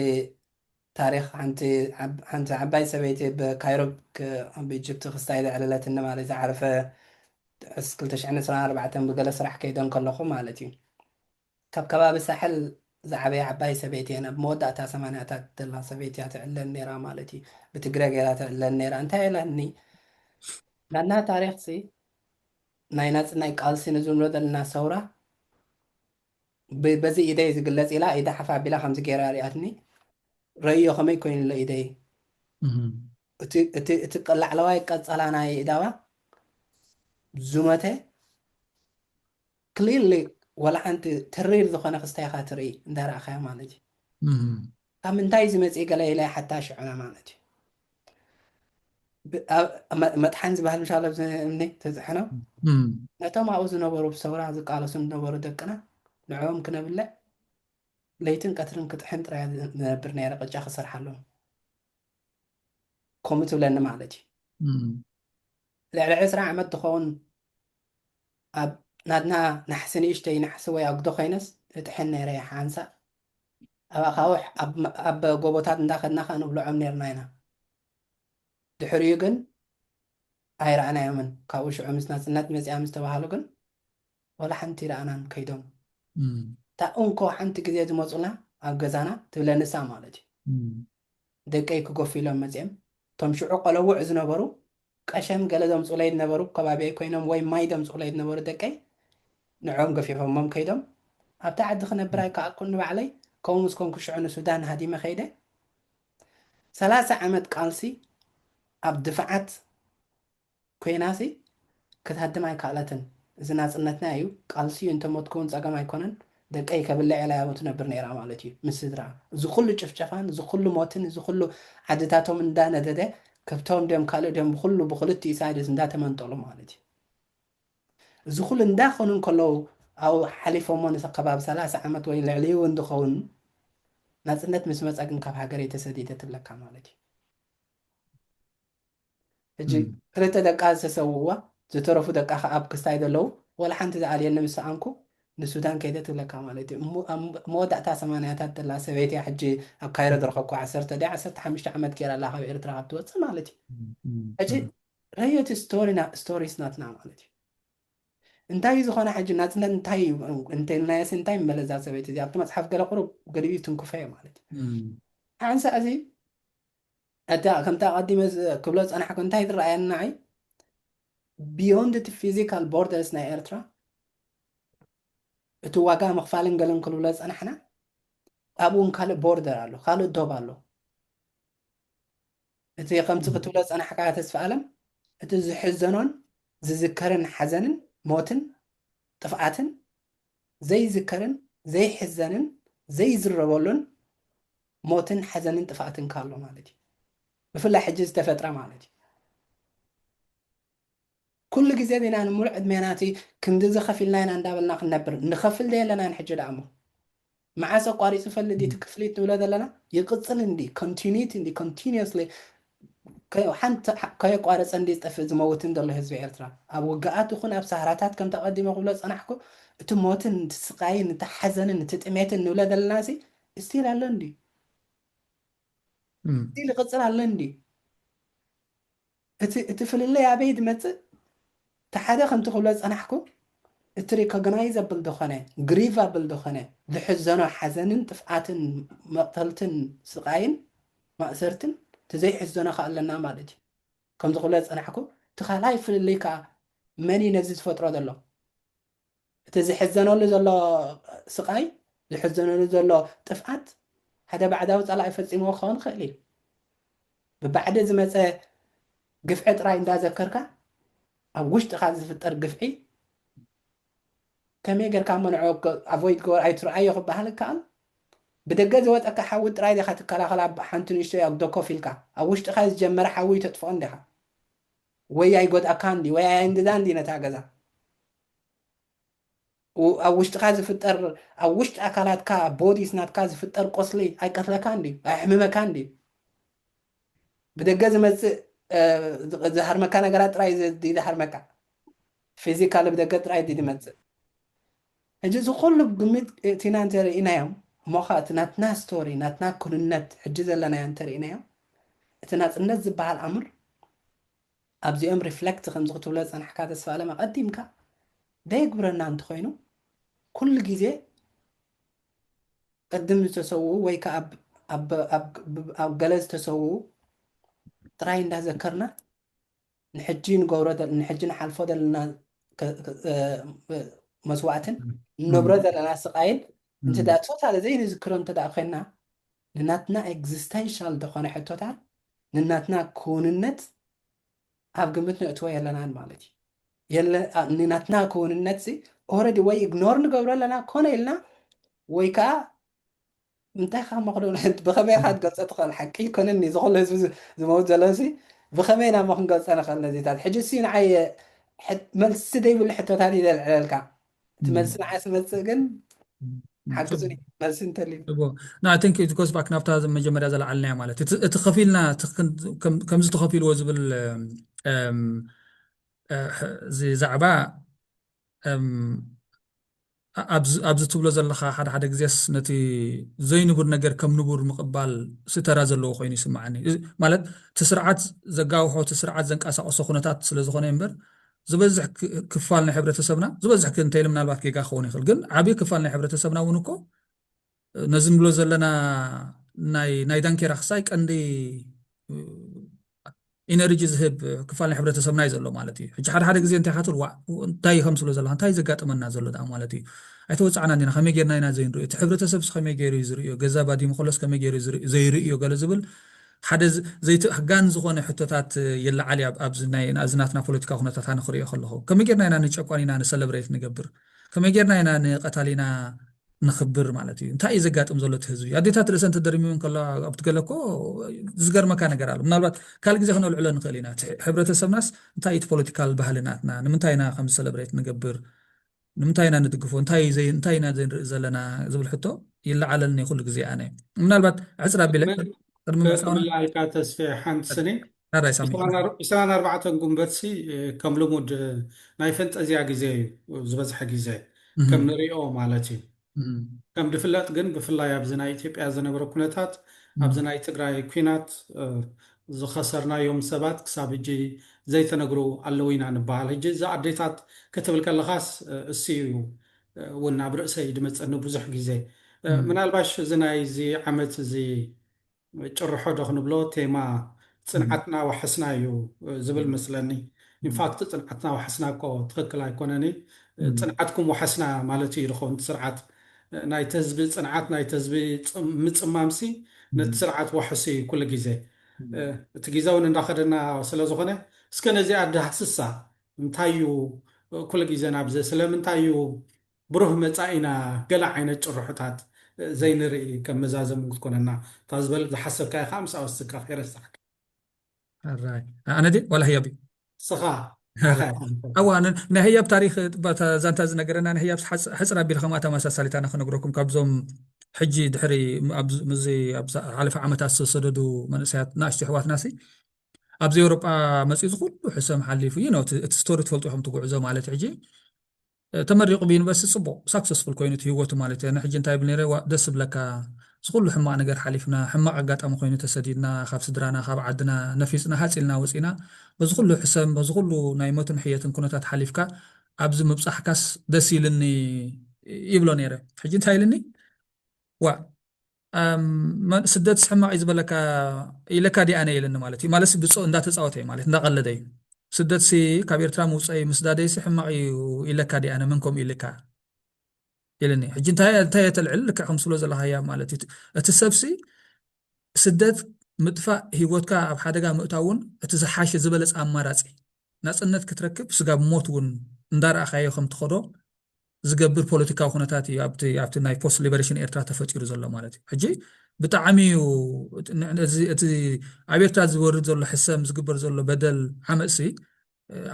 ታሪክ ሓንቲ ዓብ- ሓንቲ ዓባይ ሰበይቲ ብካይሮ ክ- ኣብ ኢጅፕት ክስታይ ዘዕለለት ንማለት ዝሓለፈ ዕስ 224 ብገለ ስራሕ ከይደ እንከለኹ ማለት እዩ ካብ ከባቢ ሳሕል ዝዓበያ ዓባይ ሰበይቲ እየን ኣብ መወዳእታ ሰማንያታት ዘላ ሰበይቲ እያ ትዕለን ነይራ ማለት እዩ ብትግረ ገይራ ትዕለን ነይራ እንታይ ኢላኒ ናትና ታሪክ ሲ ናይ ናጽናይ ቃልሲ ንዝብሎ ዘለና ሰውራ በዚ ኢደይ ዝግለጽ ኢላ ኢዳ ሓፍ ኣቢላ ከምዚ ገይራ ሪኣትኒ ረእዮ ከመይ ኮይኑ ኣሎ ኢደይ እቲ ላዕለዋይ ቀጸላ ናይ ኢዳዋ ዝመተ Clearly ዋላ ሓንቲ ተሪር ዝኾነ ክስታይ ኢኻ ትርኢ እንዳ ረኣኻያ ማለት እዩ። ካብ ምንታይ እዩ ዝመጽእ ገለ ኢለ ይሓታ ሽዑ ማለት እዩ። መጥሓን ዝበሃል ምሻሎ ኣብዚ እምኒ ተፅሕኖ ነቶም ኣብኡ ዝነበሩ ብሰውራ ዝቃለሱ ዝነበሩ ደቅና ንዕኦም ክነብልዕ ለይትን ቀትርን ክጥሕን ጥራይ ዝነብር ነይረ ቅጫ ክሰርሓሎም ከምኡ ትብለኒ ማለት እዩ ልዕሊ ዕስራ ዓመት ትኸውን ኣብ ናትና ናሕሲ ንእሽተይ ናሕሲ ወይ ኣጉዶ ኮይነስ እጥሕን ነይረ ሓንሳእ ኣብ ኣኻውሕ ኣብ ጎቦታት እንዳኸድና ከኣ ንብልዖም ነይርና ኢና ድሕሪኡ ግን ኣይረኣናዮምን ካብኡ ሽዑ ምስ ናጽነት መጽኣ ምስ ተባሃሉ ግን ወላ ሓንቲ ረኣናን ከይዶም እታ እንኮ ሓንቲ ግዜ ዝመጹና ኣብ ገዛና ትብለኒ እሳ ማለት እዩ ደቀይ ክገፉ ኢሎም መጺኦም እቶም ሽዑ ቆለዉዕ ዝነበሩ ቀሸም ገለ ዘምጹለይ ዝነበሩ ከባቢየይ ኮይኖም ወይ ማይ ዘምጹኡለይ ዝነበሩ ደቀይ ንዕኦም ገፊፎሞም ከይዶም ኣብታ ዓዲ ክነብር ኣይከኣልኩን ንባዕለይ ከምኡ ምስ ኮንኩ ሽዑ ንሱዳን ሃዲመ ከይደ ሰላሳ ዓመት ቃልሲ ኣብ ድፋዓት ኮይናሲ ክትሃድም ኣይካኣለትን እዚ ናጽነትና ኢዩ ቃልሲ ኢዩ እንተሞትኩ ውን ጸገም ኣይኮነን ደቀይ ከብልዕ ኢላ ያቡ ትነብር ነይራ ማለት ኢዩ ምስ ስድርኣ እዚ ኩሉ ጭፍጨፋን እዚ ኩሉ ሞትን እዚ ኩሉ ዓድታቶም እንዳ ነደደ ከብቶም ድዮም ካልእ ድዮም ብኩሉ ብክልቲኡ ሳይድስ እንዳ ተመንጠሉ ማለት ኢዩ እዚ ኩሉ እንዳ ኮኑ እንከለዉ ኣብኡ ሓሊፎሞ ንከባቢ ሰላሳ ዓመት ወይ ልዕሊኡ ውን ዝከውን ናጽነት ምስ መጸ ግን ካብ ሃገረይ ተሰዲደ ትብለካ ማለት ኢዩ። ሕጂ ክልተ ደቃ ዝተሰውእዋ ዝተረፉ ደቃ ከኣ ኣብ ክስታይ ዘለዉ ወላ ሓንቲ ዝኣልየኒ ምስ ሰኣንኩ ንሱዳን ከይደ ትብለካ ማለት እዩ እሞ ኣብ መወዳእታ ሰማንያታት ዘላ ሰበይቲ እያ ሕጂ ኣብ ካይሮ ዝረኸብኩ ዓሰርተ ድያ ዓሰርተ ሓሙሽተ ዓመት ገይራ ኣላ ካብ ኤርትራ ካብ ትወጽእ ማለት እዩ ሕጂ ረዮ እቲ ስቶሪና ስቶሪስ ናትና ማለት እዩ እንታይ ዝኾነ ሕጂ ናጽነት እንታይ እዩ እንተልናየሲ እንታይ መለዛ ሰበይቲ እዚ ኣብቲ መጽሓፍ ገለ ቁሩብ ገሊኡ ትንክፈዮ ማለት እዩ ሓንሳእ እዚ እታ ከምቲ ኣቐዲመ ክብሎ ዝጸናሕኩ እንታይ ትረኣየኒ ንዓይ ብዮንድ እቲ ፊዚካል ቦርደርስ ናይ ኤርትራ እቲ ዋጋ ምኽፋልን ገለን ክንብሎ ዝጸናሕና ኣብኡ እውን ካልእ ቦርደር ኣሎ ካልእ ዶብ ኣሎ እቲ ከምቲ ክትብሎ ዝጸናሕካ ተስፋ ኣለም እቲ ዝሕዘኖን ዝዝከርን ሓዘንን ሞትን ጥፍኣትን ዘይዝከርን ዘይሕዘንን ዘይዝረበሉን ሞትን ሓዘንን ጥፍኣትን ከ ኣሎ ማለት እዩ ብፍላይ ሕጂ ዝተፈጥረ ማለት እዩ ኩሉ ግዜ ቢና ንምሉእ ዕድሜና እቲ ክንድዚ ከፊልና ኢና እንዳበልና ክንነብር ንኸፍል ዘየለናን ሕጂ ደኣ እሞ መዓስ ኣቋሪጹ ይፈልጥ ድዩ እቲ ክፍሊት ንብሎ ዘለና ይቅጽል እንድዩ ኮንቲኒቲ እንድዩ ኮንቲኒየስሊ ሓንቲ ከየቋረጸ እንድዩ ዝጠፍእ ዝመውትን ዘሎ ህዝቢ ኤርትራ ኣብ ውግኣት ይኹን ኣብ ሳህራታት ከምቲ ኣቀዲመ ክብሎ ዝጸናሕኩ እቲ ሞትን እቲ ስቃይን እቲ ሓዘንን እቲ ጥሜትን ንብሎ ዘለናሲ ስቲል ኣሎ እንድዩ ስቲል ይቅጽል ኣሎ እንድዩ እቲ እቲ ፍልልይ ኣበይ ድመጽእ እቲ ሓደ ከምቲ ክብሎ ዝጸናሕኩ እቲ ሪኮግናይዘብል ድኮነ ግሪቫብል ድኮነ ዝሕዘኖ ሓዘንን ጥፍኣትን መቅተልትን ስቃይን ማእሰርትን እቲ ዘይሕዘኖ ከኣ ኣለና ማለት እዩ ከምዚ ክብሎ ዝጸናሕኩ እቲ ካልኣይ ፍልልይ ከኣ መን እዩ ነዚ ዝፈጥሮ ዘሎ እቲ ዝሕዘነሉ ዘሎ ስቓይ፣ ዝሕዘነሉ ዘሎ ጥፍኣት፣ ሓደ ባዕዳዊ ጸላኢ ፈጺምዎ ክኸውን ይኽእል እዩ። ብባዕዲ ዝመጸ ግፍዒ ጥራይ እንዳዘከርካ፣ ኣብ ውሽጥኻ ዝፍጠር ግፍዒ ከመይ ጌርካ እሞ ንዕኡ ኣቮይድ ግበሮ፣ ኣይትርኣዮ ክበሃል ይከኣል? ብደገ ዝወጸካ ሓዊ ጥራይ ዲኻ ትከላኸል ኣብ ሓንቲ ንእሽቶይ ኣጉዶ ኮፍ ኢልካ? ኣብ ውሽጥኻ ዝጀመረ ሓዊ ተጥፍኦ እንዲኻ? ወይ ኣይጎድኣካ እንድዩ ወይ ኣየንግዛ እንድዩ ነታ ገዛ። ኣብ ውሽጥኻ ዝፍጠር ኣብ ውሽጢ ኣካላትካ ኣብ ቦዲስ ናትካ ዝፍጠር ቆስሊ ኣይቀትለካ እንድዩ ኣየሕምመካ እንድዩ ብደገ ዝመጽእ ዝሃርመካ ነገራት ጥራይ ድዩ ዝሃርመካ ፊዚካሊ ብደገ ጥራይ ድዩ ዝመጽእ ሕጂ እዚ ኩሉ ብግምት እእቲና እንተ ርኢናዮም እሞ ኸኣ እቲ ናትና ስቶሪ ናትና ኩንነት ሕጂ ዘለናዮ እንተ ርኢናዮ እቲ ናጽነት ዝበሃል ኣምር ኣብዚኦም ሪፍለክት ከምዚ ክትብሎ ዝጸናሕካ ተስፋኣለም ኣቐዲምካ ዘየግብረና እንተ ኾይኑ ኩሉ ግዜ ቅድም ዝተሰውኡ ወይ ከኣ ኣብ ገለ ዝተሰውኡ ጥራይ እንዳዘከርና ንሕጂ ንገብሮ ንሕጂ ንሓልፎ ዘለና መስዋእትን ንነብሮ ዘለና ስቓይን እንተ ደኣ ቶታሊ ዘይንዝክሮ እንተ ደኣ ኮይንና ንናትና ኤግዚስተንሻል ዝኾነ ሕቶታት ንናትና ክውንነት ኣብ ግምት ነእትዎ የለናን ማለት እዩ ናትና ክውንነት ኦረዲ ወይ ኢግኖር ንገብሮ ኣለና ኮነ ኢልና ወይ ከዓ እንታይ ካብ መክዶ ብኸመይ ካ ትገልፀ ትኽእል ሓቂ ይኮነኒ እዚ ኩሉ ህዝቢ ዝመውት ዘሎ ሲ ብኸመይ ናሞ ክንገልፀ ንኽእል ነዚታት ሕጂ ሲ ንዓይ መልሲ ዘይብሉ ሕቶታት እዩ ዘልዕለልካ እቲ መልሲ ንዓይ ስመፅእ ግን ሓግዙኒ መልሲ እንተልዩ ንኣተንክ ጎስ ባክ ናብታ መጀመርያ ዘለዓልናያ ማለት እቲ ከፊልና ከምዚ ተኸፊልዎ ዝብል እዚ ዛዕባ ኣብዚ ትብሎ ዘለኻ ሓደ ሓደ ግዜስ ነቲ ዘይንቡር ነገር ከም ንቡር ምቕባል ሲ ተራ ዘለዎ ኮይኑ ይስምዓኒ። እዚ ማለት እቲ ስርዓት ዘጋውሖ እቲ ስርዓት ዘንቀሳቕሶ ኩነታት ስለ ዝኾነ እዩ እምበር ዝበዝሕ ክፋል ናይ ሕብረተሰብና ዝበዝሕ እንተይለ ምናልባት ጌጋ ክኸውን ይኽእል ግን ዓብዪ ክፋል ናይ ሕብረተሰብና እውን እኮ ነዚ ንብሎ ዘለና ናይ ናይ ዳንኬራ ክሳይ ቀንዲ ኢነርጂ ዝህብ ክፋል ናይ ሕብረተሰብና እዩ ዘሎ ማለት እዩ ሕጂ ሓደ ሓደ ግዜ እንታይ ካትብል ዋ እንታይ ከምስሎ ዘለካ እንታይ ዘጋጥመና ዘሎ ደኣ ማለት እዩ ኣይተወፃዕና እንዲና ከመይ ጌርና ኢና ዘይንሪኦ እቲ ሕብረተሰብስ ከመይ ገይሩ እዩ ዝርእዮ ገዛ ባዲሙ ከሎስ ከመይ ገይሩ ዘይርእዮ ገለ ዝብል ሓደ ዘይትህጋን ዝኾነ ሕቶታት ይለዓል እያ ኣብዚ ናይ ናዚ ናትና ፖለቲካ ኩነታት ኣነ ክሪኦ ከለኹ ከመይ ጌርና ኢና ንጨቋኒና ንሰለብሬት ንገብር ከመይ ጌርና ኢና ንቀታሊና ንክብር ማለት እዩ እንታይ እዩ ዘጋጥም ዘሎ እቲ ህዝቢ ኣዴታት ርእሰን ተደርሚውን ከለዋ ኣብቲ ገለ እኮ ዝገርመካ ነገር ኣሎ ምናልባት ካልእ ግዜ ክነልዕሎ ንኽእል ኢና እቲ ሕብረተሰብናስ እንታይ እቲ ፖለቲካል ባህሊ ናትና ንምንታይ ኢና ከም ሰለብሬት ንገብር ንምንታይ ኢና ንድግፎ እንታይ እንታይ ኢና ዘይንርኢ ዘለና ዝብል ሕቶ ይለዓለልኒ ኩሉ ግዜ ኣነ ምናልባት ዕፅር ኣቢለ ቅድሚ ምዕፃውና ተስፌ ሓንቲ ስኒ ናዳይ ሳሚ ዕስራን ኣር- ዕስራን ኣርባዕተን ጉንበትሲ እ፣ ከም ልሙድ እ፣ ናይ ፈንጠዝያ ግዜ እዩ እ፣ ዝበዝሐ ግዜ ከም እህም፣ ንሪኦ ማለት እዩ እህም፣ ከም ድፍለጥ ግን ብፍላይ ኣብዚ ናይ ኢትዮጵያ ዝነበረ ኩነታት ኣብዚ እህም፣ ናይ ትግራይ ኩናት እ፣ ዝኸሰርናዮም ሰባት ክሳብ ሕጂ ዘይተነግሩ ኣለዉ ኢና ንበሃል ሕጂ እዚ ኣዴታት ክትብል ከለኻስ እ፣ እሱ እዩ እ፣ እውን ኣብ ርእሰይ ድመፀኒ ብዙሕ ግዜ እ፣ እህም፣ ምናልባሽ እዚ ናይ እዚ ዓመት እዚ ጭርሖ ዶ ክንብሎ ቴማ ጽንዓትና ዋሕስና እዩ ዝብል መስለኒ ኢንፋክት ጽንዓትና ዋሕስና እኮ ትኽክል ኣይኮነን እዪ ጽንዓትኩም ዋሕስና ማለት እዩ ዝኸውን እቲ ስርዓት ናይቲ ህዝቢ ጽንዓት ናይቲ ህዝቢ ምጽማም ሲ ነቲ ስርዓት ዋሕስ እዩ ኩሉ ግዜ እቲ ግዜ ውን እንዳኸደና ስለ ዝኾነ እስከ ነዚኣ ዳህስሳ እንታይ እዩ ኩሉ ግዜ ናብዚ ስለምንታይ እዩ ብሩህ መጻኢና ገለ ዓይነት ጭርሖታት ዘይንርኢ ከም መዛዘሚ እውን ክትኮነና እታ ዝበል ዝሓሰብካያ ከኣ ምስ ኣወስካ ከይረሳዕካ። ሕራይ ኣነ ድየ ዋላ ህያብ እዩ? ንስኻ ንዓኻ ኢኻ ኣንተ። ኣዋ ን ናይ ህያብ ታሪኽ እባ እታ ዛንታ ዝነገረና ናይ ህያብስ ሓጽ ሕጽር ኣቢለ ከምኣ ተመሳሳሊት ኣነ ክነግረኩም ካብዞም ሕጂ ድሕሪ ኣብ ምስዚ ኣብ ዝሓለፈ ዓመታት ዝተሰደዱ መንእሰያት ናእሽቱ ኣሕዋትናሲ ኣብዚ ኤውሮጳ መጺኡ እዚ ኩሉ ሕሰም ሓሊፉ ዩ ኖው እቲ እቲ ስቶሪ ትፈልጡ ኢኹም እቲ ጉዕዞ ማለት እዩ ሕጂ ተመሪቁ ብዩኒቨርስቲ ጽቡቅ ሳክሰስፉል ኮይኑ እቲ ሂወቱ ማለት እየ ንሕጂ እንታይ ይብል ነይረ ዋእ ደስ ዝብለካ እዚ ኩሉ ሕማቅ ነገር ሓሊፍና ሕማቅ ኣጋጣሚ ኮይኑ ተሰዲድና ካብ ስድራና ካብ ዓድና ነፊጽና ሃጽ ኢልና ወጺእና በዚ ኩሉ ሕሰም በዚ ኩሉ ናይ ሞትን ሕየትን ኩነታት ሓሊፍካ ኣብዚ ምብጻሕካስ ደስ ኢልኒ ይብሎ ነይረ ሕጂ እንታይ ኢልኒ ዋእ መን ስደትስ ሕማቅ እዩ ዝበለካ ኢለካ ዲኣ ነይ ኢለኒ ማለት እዩ ማለት ብጾ እንዳተጻወተ እዩ ማለት እንዳቀለደ እዩ ስደትሲ ካብ ኤርትራ ምውጻይ ምስዳደይሲ ሕማቅ እዩ ኢለካ ዲኣ ነ መን ከምኡ ኢልካ ኢለኒ ሕጂ እንታይ እንታይ የተልዕል ልክዕ ከም ስሎ ዘለካ ህያብ ማለት እዩ እቲ ሰብሲ ስደት ምጥፋእ ህይወትካ ኣብ ሓደጋ ምእታው እውን እቲ ዝሓሸ ዝበለፅ ኣማራፂ ናፅነት ክትረክብ ስጋብ ሞት እውን እንዳረኣኻዮ ከም ትኸዶ ዝገብር ፖለቲካዊ ኩነታት እዩ ኣብቲ ኣብቲ ናይ ፖስት ሊበሬሽን ኤርትራ ተፈጢሩ ዘሎ ማለት እዩ ሕጂ ብጣዕሚ እዩ እቲ ኣብ ኤርትራ ዝወርድ ዘሎ ሕሰም ዝግበር ዘሎ በደል ዓመፅሲ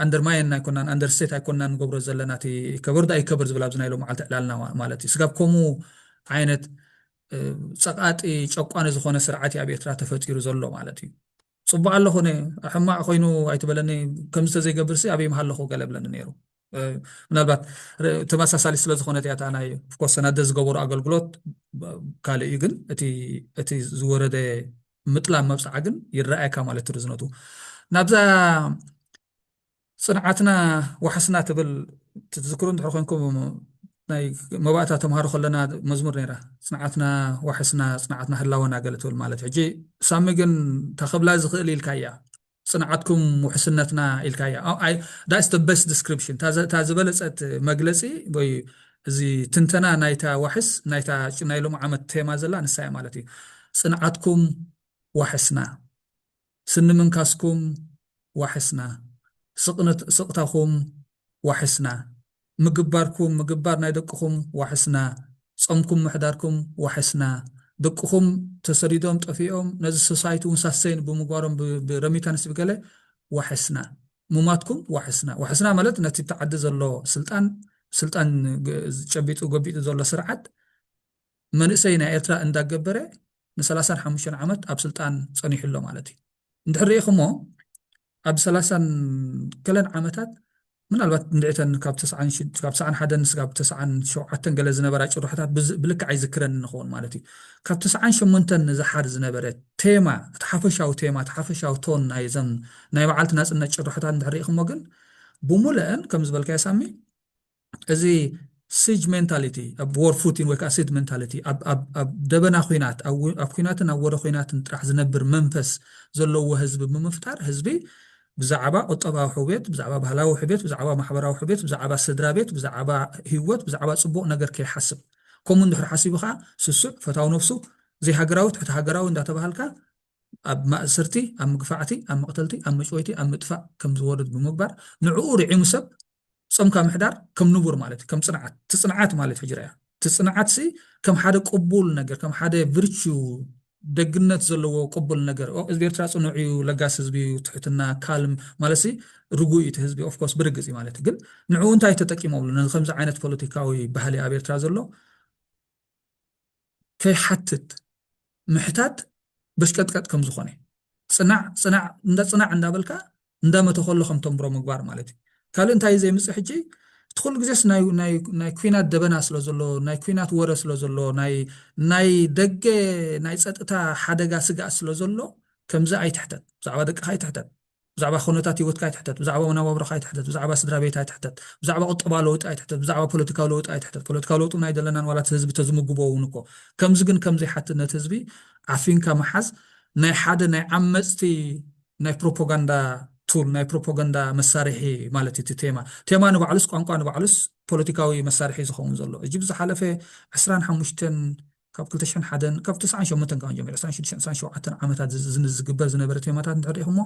ኣንደርማየን ኣይኮናን ኣንደርስቴት ኣይኮናን ንገብሮ ዘለና እቲ ከበር ዶ ኣይከበር ዝብል ኣብዚ ናይ ሎም መዓልቲ ዕላልና ማለት እዩ ስጋብ ከምኡ ዓይነት ፀቃጢ ጨቋኒ ዝኾነ ስርዓት እዩ ኣብ ኤርትራ ተፈጢሩ ዘሎ ማለት እዩ ፅቡቅ ኣሎ ኮነ ሕማቅ ኮይኑ ኣይትበለኒ ከምዚ ተዘይገብርሲ ኣበይ ምሃለኹ ገለ ብለኒ ነይሩ ምናልባት ተመሳሳሊ ስለ ዝኾነት እያ እታ ናይ ኦፍኮርስ ሰናደ ዝገበሩ ኣገልግሎት ካልእ እዩ ግን እቲ ዝወረደ ምጥላም መብፅዓ ግን ይረኣየካ ማለት እዩ ርዝነቱ ናብዛ ፅንዓትና ዋሕስና ትብል ትዝክሩ እንድሕር ኮንኩም ናይ መባእታ ተምሃሮ ከለና መዝሙር ነይራ ፅንዓትና ዋሕስና ፅንዓትና ህላወና ገለ ትብል ማለት ሕጂ ሳሚ ግን ታኸብላ ዝኽእል ኢልካ እያ ጽንዓትኩም ውሕስነትና ኢልካያ ኣይ that's the best description እታ ዝበለጸት መግለጺ ወይ እዚ ትንተና ናይታ ዋሕስ ናይታ ናይ ሎሚ ዓመት ቴማ ዘላ ንሳ እያ ማለት እዩ ጽንዓትኩም ዋሕስና ስኒ ምንካስኩም ዋሕስና ስቕታኹም ዋሕስና ምግባርኩም ምግባር ናይ ደቅኹም ዋሕስና ጾምኩም ምሕዳርኩም ዋሕስና ደቅኹም ተሰዲዶም ጠፊኦም ነዚ ሶሳይቲ ውን ሳሰይን ብምግባሮም ብ ረሚታንስ ብገለ ዋሕስና ሙማትኩም ዋሕስና ዋሕስና ማለት ነቲ ኣብቲ ዓዲ ዘሎ ስልጣን ስልጣን ጨቢጡ ጎቢጡ ዘሎ ስርዓት መንእሰይ ናይ ኤርትራ እንዳገበረ ንሰላሳን ሓሙሽተን ዓመት ኣብ ስልጣን ጸኒሑ ኣሎ ማለት እዩ። እንድሕር ርኢኽሞ ኣብ ሰላሳን ገለን ዓመታት ምናልባት እንድዒተን ካብ ተስዓን ሽድ ካብ ተስዓን ሓደን እስካብ ተስዓን ሸውዓተን ገለ ዝነበራ ጭርሖታት ብዝ ብልክዕ ኣይዝክረንን ንኸውን ማለት እዩ። ካብ ተስዓን ሸሞንተን ንዝሓር ዝነበረ ቴማ እቲ ሓፈሻዊ ቴማ እቲ ሓፈሻዊ ቶን ናይ እዘን ናይ መዓልቲ ናጽነት ጭርሖታት እንድሕር ርኢኽሞ ግን ብሙለአን ከም ዝበልካዮ ሳሚ እዚ ሲጅ ሜንታሊቲ ኣብ ዎር ፉቲን ወይ ከዓ ሲድ ሜንታሊቲ ኣብ ደበና ኩናት ኣብ ኩናትን ኣብ ወረ ኩናትን ጥራሕ ዝነብር መንፈስ ዘለዎ ህዝቢ ብምፍጣር ህዝቢ ብዛዕባ ቁጠባዊ ሕውየት፣ ብዛዕባ ባህላዊ ሕብየት፣ ብዛዕባ ማሕበራዊ ሕብየት፣ ብዛዕባ ስድራ ቤት፣ ብዛዕባ ህይወት፣ ብዛዕባ ፅቡቕ ነገር ከይሓስብ ከምኡ እንድሕር ሓሲቡ ከዓ ስሱዕ ፈታዊ ነብሱ ዘይሃገራዊ ትሕቲ ሃገራዊ እንዳተባሃልካ ኣብ ማእስርቲ ኣብ ምግፋዕቲ ኣብ መቕተልቲ ኣብ መጭወይቲ ኣብ ምጥፋእ ከም ዝወርድ ብምግባር ንዕኡ ርዒሙ ሰብ ጾምካ ምሕዳር ከም ንቡር ማለት እዩ ከም ጽንዓት ትጽንዓት ማለት ሕጂ ረኣያ እቲ ጽንዓት ሲ ከም ሓደ ቅቡል ነገር ከም ሓደ ቪርቹ ደግነት ዘለዎ ቅቡል ነገር ህዝቢ ኤርትራ ጽኑዕ እዩ ለጋስ ህዝቢ እዩ ትሕትና ካልም ማለት ሲ ርጉእ እዩ እቲ ህዝቢ ኦፍኮርስ ብርግጽ እዩ ማለት ግን ንዕኡ እንታይ ተጠቂሞምሉ ነዚ ከምዚ ዓይነት ፖለቲካዊ ባህሊ ኣብ ኤርትራ ዘሎ ከይሓትት ምሕታት በሽቀጥቀጥ ከም ዝኾነ ጽናዕ ጽናዕ እንዳ ጽናዕ እንዳበልካ እንዳ መተኸሎ ከም ተንብሮ ምግባር ማለት እዩ ካልእ እንታይ ዘይምጽእ ሕጂ እቲ ኩሉ ግዜስ ናይ ናይ ናይ ኩናት ደበና ስለ ዘሎ ናይ ኩናት ወረ ስለ ዘሎ ናይ ናይ ደገ ናይ ጸጥታ ሓደጋ ስግኣት ስለ ዘሎ ከምዚ ኣይትሕተት ብዛዕባ ደቅኻ ኣይትሕተት ብዛዕባ ኩነታት ህይወትካ ኣይትሕተት፣ ብዛዕባ መነባብሮኻ ኣይትሕተት፣ ብዛዕባ ስድራቤት ኣይትሕተት፣ ብዛዕባ ቁጠባዊ ለውጢ ኣይትሕተት፣ ብዛዕባ ፖለቲካዊ ለውጢ ኣይትሕተት፣ ፖለቲካዊ ለውጢ እውን ኣይደለናን ዋላ እቲ ህዝቢ ተዝምግቦ እውን እኮ ከምዚ ግን ከምዚ ይሓትት ነቲ ህዝቢ ዓፊንካ ምሓዝ ናይ ሓደ ናይ ዓመጽቲ ናይ ፕሮፖጋንዳ ቱል ናይ ፕሮፖጋንዳ መሳርሒ ማለት እዩ እቲ ቴማ ቴማ ንባዕሉስ ቋንቋ ንባዕሉስ ፖለቲካዊ መሳርሒ ዝኸውን ዘሎ እጂ ብዝሓለፈ ዕስራን ሓሙሽተን ካብ ክልተ ሽሕን ሓደን ካብ ትስዓን ሸሞንተን ካብ ጀሚሩ ዕስራን ሽዱሽተን ዕስራን ሸውዓተን ዓመታት ዝ- ዝ- ዝግበር ዝነበረ ቴማታት እንድሕር ሪኢኹሞ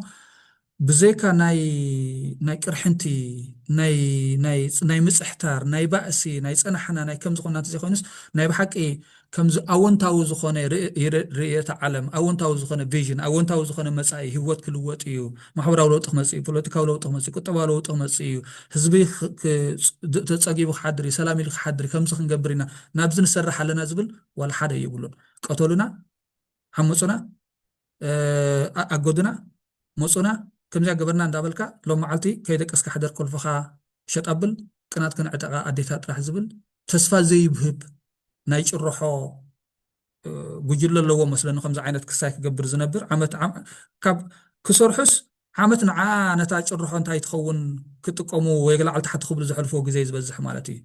ብዘይካ ናይ ናይ ቅርሕንቲ ናይ ናይ ጽ- ናይ ምጽሕታር ናይ ባእሲ ናይ ጸናሕና ናይ ከምዚ ኮና እንተዘይኮይኑስ ናይ ብሓቂ ከምዚ ኣወንታዊ ዝኾነ ርእ- ርእ- ርእዮተ ዓለም ኣወንታዊ ዝኾነ ቪዥን ኣወንታዊ ዝኾነ መጻኢ ህይወት ክልወጥ እዩ ማሕበራዊ ለውጢ ክመፅእ እዩ፣ ፖለቲካዊ ለውጢ ክመፅእ እዩ፣ ቁጠባዊ ለውጢ ክመፅእ እዩ፣ ህዝቢ ተፀጊቡ ክሓድር እዩ፣ ሰላም ኢሉ ክሓድር እዩ፣ ከምዚ ክንገብር ኢና፣ ናብዚ ንሰርሕ ኣለና ዝብል ዋላ ሓደ የብሉን። ቀተሉና፣ ዓመፁና፣ ኣገዱና፣ መፁና፣ ከምዚኣ ገበርና እንዳበልካ ሎም መዓልቲ ከይደቀስካ ሕደር ኮልፍኻ ሸጥ ኣብል ቅናት ክንዕጠቓ ኣዴታት ጥራሕ ዝብል ተስፋ ዘይብህብ ናይ ጭርሖ ጉጅለ ኣለዎ መስለኒ ከምዚ ዓይነት ክስታይ ክገብር ዝነብር ዓመት ካብ ክሰርሑስ ዓመት ንዓ ነታ ጭርሖ እንታይ ትኸውን ክጥቀሙ ወይ ላዕሊ ታሕቲ ክብሉ ዘሕልፍዎ ግዜ ዝበዝሕ ማለት እዩ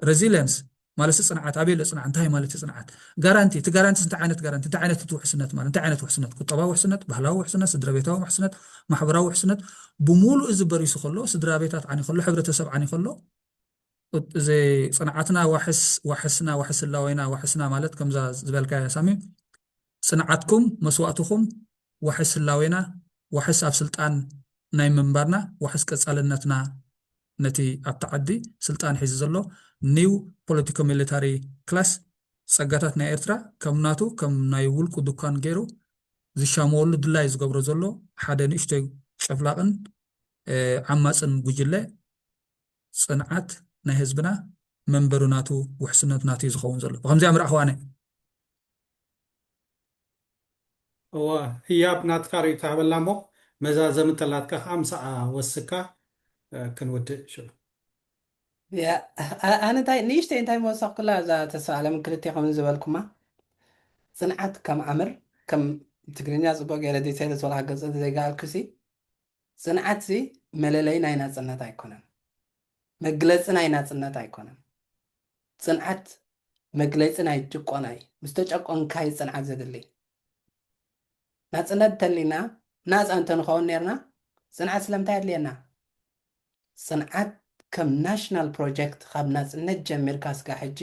ሬዚሊየንስ ማለት ፅንዓት ኣበይ ኣሎ ፅንዓት እንታይ ማለት እዩ ፅንዓት ጋራንቲ እቲ ጋራንቲስ እንታይ ዓይነት ጋራንቲ እንታይ ዓይነት እቲ ውሕስነት ማለት እንታይ ዓይነት ውሕስነት ቁጠባዊ ውሕስነት ባህላዊ ውሕስነት ስድራ ቤታዊ ውሕስነት ማሕበራዊ ውሕስነት ብምሉእ እዚ በሪሱ ከሎ ስድራ ቤታት ዓኒ ከሎ ሕብረተሰብ ዓኒ ከሎ ጽንዓትና ዋሕስ ዋሕስና ዋሕስ ህላዌና ዋሕስና ማለት ከምዛ ዝበልካያ ሳሚ ጽንዓትኩም መስዋእትኹም ዋሕስ ህላዌና ዋሕስ ኣብ ስልጣን ናይ ምንባርና ዋሕስ ቀጻልነትና ነቲ ኣብቲ ዓዲ ስልጣን ሒዙ ዘሎ ኒው ፖለቲኮ ሚሊታሪ ክላስ ጸጋታት ናይ ኤርትራ ከም ናቱ ከም ናይ ውልቁ ዱካን ገይሩ ዝሻመወሉ ድላይ ዝገብሮ ዘሎ ሓደ ንእሽቶይ ጨፍላቕን ዓማጽን ጉጅለ ጽንዓት ናይ ህዝብና መንበሩ ናቱ ውሕስነቱ ናቱ እዩ ዝኸውን ዘሎ ብከምዚኣ ምርኣኹዋ ኣነ እወ ህያብ ናትካ ርእይቶ ሃበላ እሞ መዛዘሚ እንተላትካ ከኣ ምሳኣ ወስካ ክንውድእ ሽዑ። ኣነ እንታይ ንእሽተይ እንታይ ምወሰኽኩላ እዛ ተስፋኣለም ክልቴኹምን ዝበልኩማ ጽንዓት ከም ኣምር ከም ትግርኛ ጽቡቕ ጌረ ዲተይል ዝወልካ ክገልጸ እንተዘይገኣልኩሲ ጽንዓትሲ መለለዪ ናይ ናጽነት ኣይኮነን፣ መግለጺ ናይ ናጽነት ኣይኮነን። ጽንዓት መግለጺ ናይ ጭቆና እዩ፣ ምስ ተጨቆንካ እዩ ጽንዓት ዘድሊ። ናጽነት እንተሊና ናጻ እንተንኸውን ኔርና ጽንዓት ስለምንታይ ኣድልየና? ጽንዓት ከም ናሽናል ፕሮጀክት ካብ ናጽነት ጀሚርካ ስጋዕ ሕጂ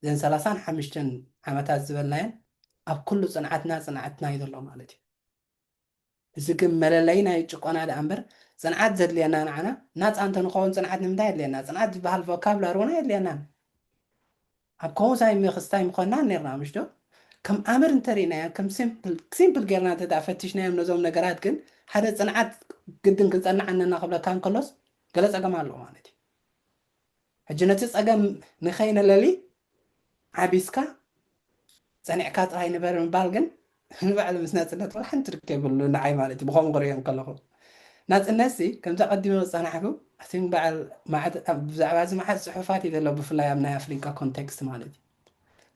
ዘን ሰላሳን ሓምሽተን ዓመታት ዝበልናየን ኣብ ኩሉ ጽንዓትና ጽንዓትና እዩ ዘሎ ማለት እዩ። እዚ ግን መለለዪ ናይ ጭቆና ድኣ እምበር ጽንዓት ዘድልየና ንዓና ናጻ እንተ ንኸውን ጽንዓት ንምንታይ የድልየና? ጽንዓት ዝበሃል ቮካብላሪ እውን ኣየድልየናን። ኣብ ከምኡ ሳይ ምኽስታ ኣይምኾንናን ኔርና ምሽ ዶ? ከም ኣምር እንተ ርኢናዮ ከም ሲምፕል ሲምፕል ጌርና እንተ ድኣ ፈቲሽናዮም ነዞም ነገራት ግን ሓደ ጽንዓት ግድን ክንጸንዕ ኣነና ክብለካ እንከሎስ ገለ ጸገም ኣሎ ማለት እዩ። ሕጂ ነቲ ጸገም ንኸይነለሊ ዓቢስካ ጸኒዕካ ጥራይ ንበር ምባል ግን ንባዕሉ ምስ ናጽነት ዋላ ሓንቲ ርክብ የብሉን ንዓይ ማለት እዩ ብኸምኡ ክርእዮ እንከለኹ ናጽነትሲ ከምቲ ኣቐዲመ ዝጸናሕኩ እቲ ንበዓል መዓት ብዛዕባ እዚ መዓት ጽሑፋት እዩ ዘሎ ብፍላይ ኣብ ናይ ኣፍሪቃ ኮንቴክስት ማለት እዩ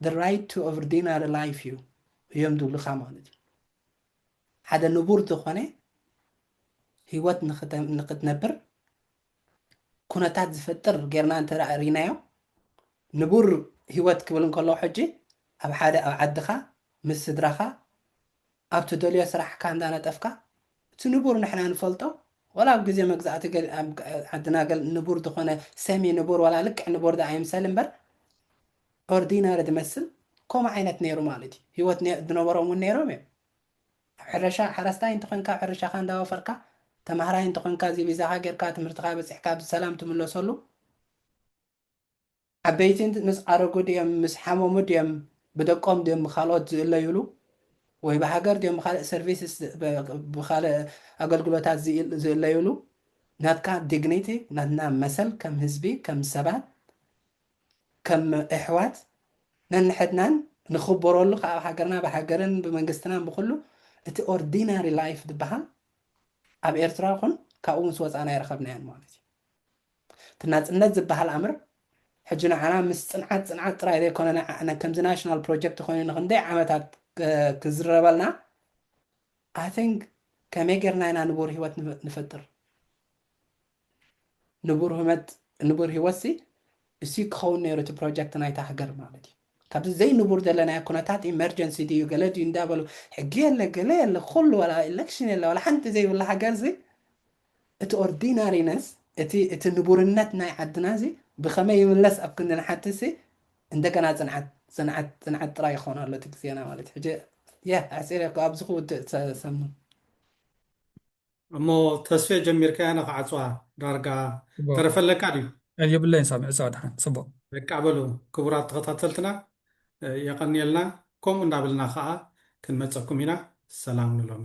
the right to ordinary life እዩ እዮም ዝብሉኻ ማለት እዩ ሓደ ንቡር ዝኾነ ህይወት ንክትነብር ኩነታት ዝፈጥር ጌርና እንተ ርኢናዮ ንቡር ህይወት ክብል እንከሎ ሕጂ ኣብ ሓደ ኣብ ዓድኻ ምስ ስድራኻ ኣብ ትደልዮ ስራሕካ እንዳነጠፍካ እቲ ንቡር ንሕና ንፈልጦ ወላ ኣብ ግዜ መግዛእቲ ዓድና ገል ንቡር ዝኾነ ሰሚ ንቡር ወላ ልክዕ ንቡር ዳኣ ይምሰል እምበር ኦርዲናሪ ዝመስል ከምኡ ዓይነት ነይሩ ማለት እዩ ህይወት ዝነበሮም እውን ነይሮም እዮም ኣብ ሕርሻ፣ ሓረስታይ እንተኾይንካ ሕርሻኻ እንዳወፈርካ፣ ተማሃራይ እንተኾይንካ እዚ ቪዛኻ ጌርካ ትምህርትኻ በጺሕካ ብሰላም ትምለሰሉ ዓበይቲ ምስ ዓረጉ ድዮም ምስ ሓመሙ ድዮም ብደቆም ድዮም ብካልኦት ዝእለዩሉ ወይ ብሃገር ድዮም ብካልእ ሰርቪስስ ብካልእ ኣገልግሎታት ዝእለዩሉ ናትካ ዲግኒቲ ናትና መሰል ከም ህዝቢ ከም ሰባት ከም እሕዋት ነንሕድናን ንክበረሉ ክኣ ኣብ ሃገርና ብሃገርን ብመንግስትናን ብኩሉ እቲ ኦርዲናሪ ላይፍ ዝብሃል ኣብ ኤርትራ ይኹን ካብኡ ምስ ወጻና ኣይረኸብናዮን ማለት እዩ። እቲ ናጽነት ዝብሃል ኣምር ሕጂ ንዓና ምስ ጽንዓት ጽንዓት ጥራይ ዘይኮነ ንዓና ከምዚ ናሽናል ፕሮጀክት ኮይኑ ንክንደይ ዓመታት ክዝረበልና ኣይ ቲንክ ከመይ ጌርና ኢና ንቡር ህይወት ንፈጥር ንቡር ህመት ንቡር ሂወት ሲ እሲ ክኸውን ነይሩ እቲ ፕሮጀክት ናይታ ሃገር ማለት እዩ ካብዚ ዘይንቡር ዘለናዮ ኩነታት ኢመርጀንሲ ድዩ ገለ ድዩ እንዳበሉ ሕጊ የለ ገለ የለ ኩሉ ወላ ኢለክሽን የለ ወላ ሓንቲ ዘይብላ ሃገር ዚ እቲ ኦርዲናሪነስ እቲ እቲ ንቡርነት ናይ ዓድና እዚ ብኸመይ ይምለስ ኣብ ክንዲ ንሓቲ ሲ እንደገና ጽንዓት ጽንዓት ጽንዓት ጥራይ ይኾን ኣሎ እቲ ግዜና ማለት ሕጂ ያ ኣሕጺረ ኣብዚ ክውድእ ሰሙ እሞ ተስፌ ጀሚርካያ ንክዓጽዋ ዳርጋ ተረፈለካ ድዩ። የብለይን ሳሚ ዕጸዋ ድሓን ጽቡቅ። በቃ በሉ ክቡራት ተኸታተልትና የቐንየልና ከምኡ እንዳበልና ከኣ ክንመጸኩም ኢና ሰላም ንሎሚ።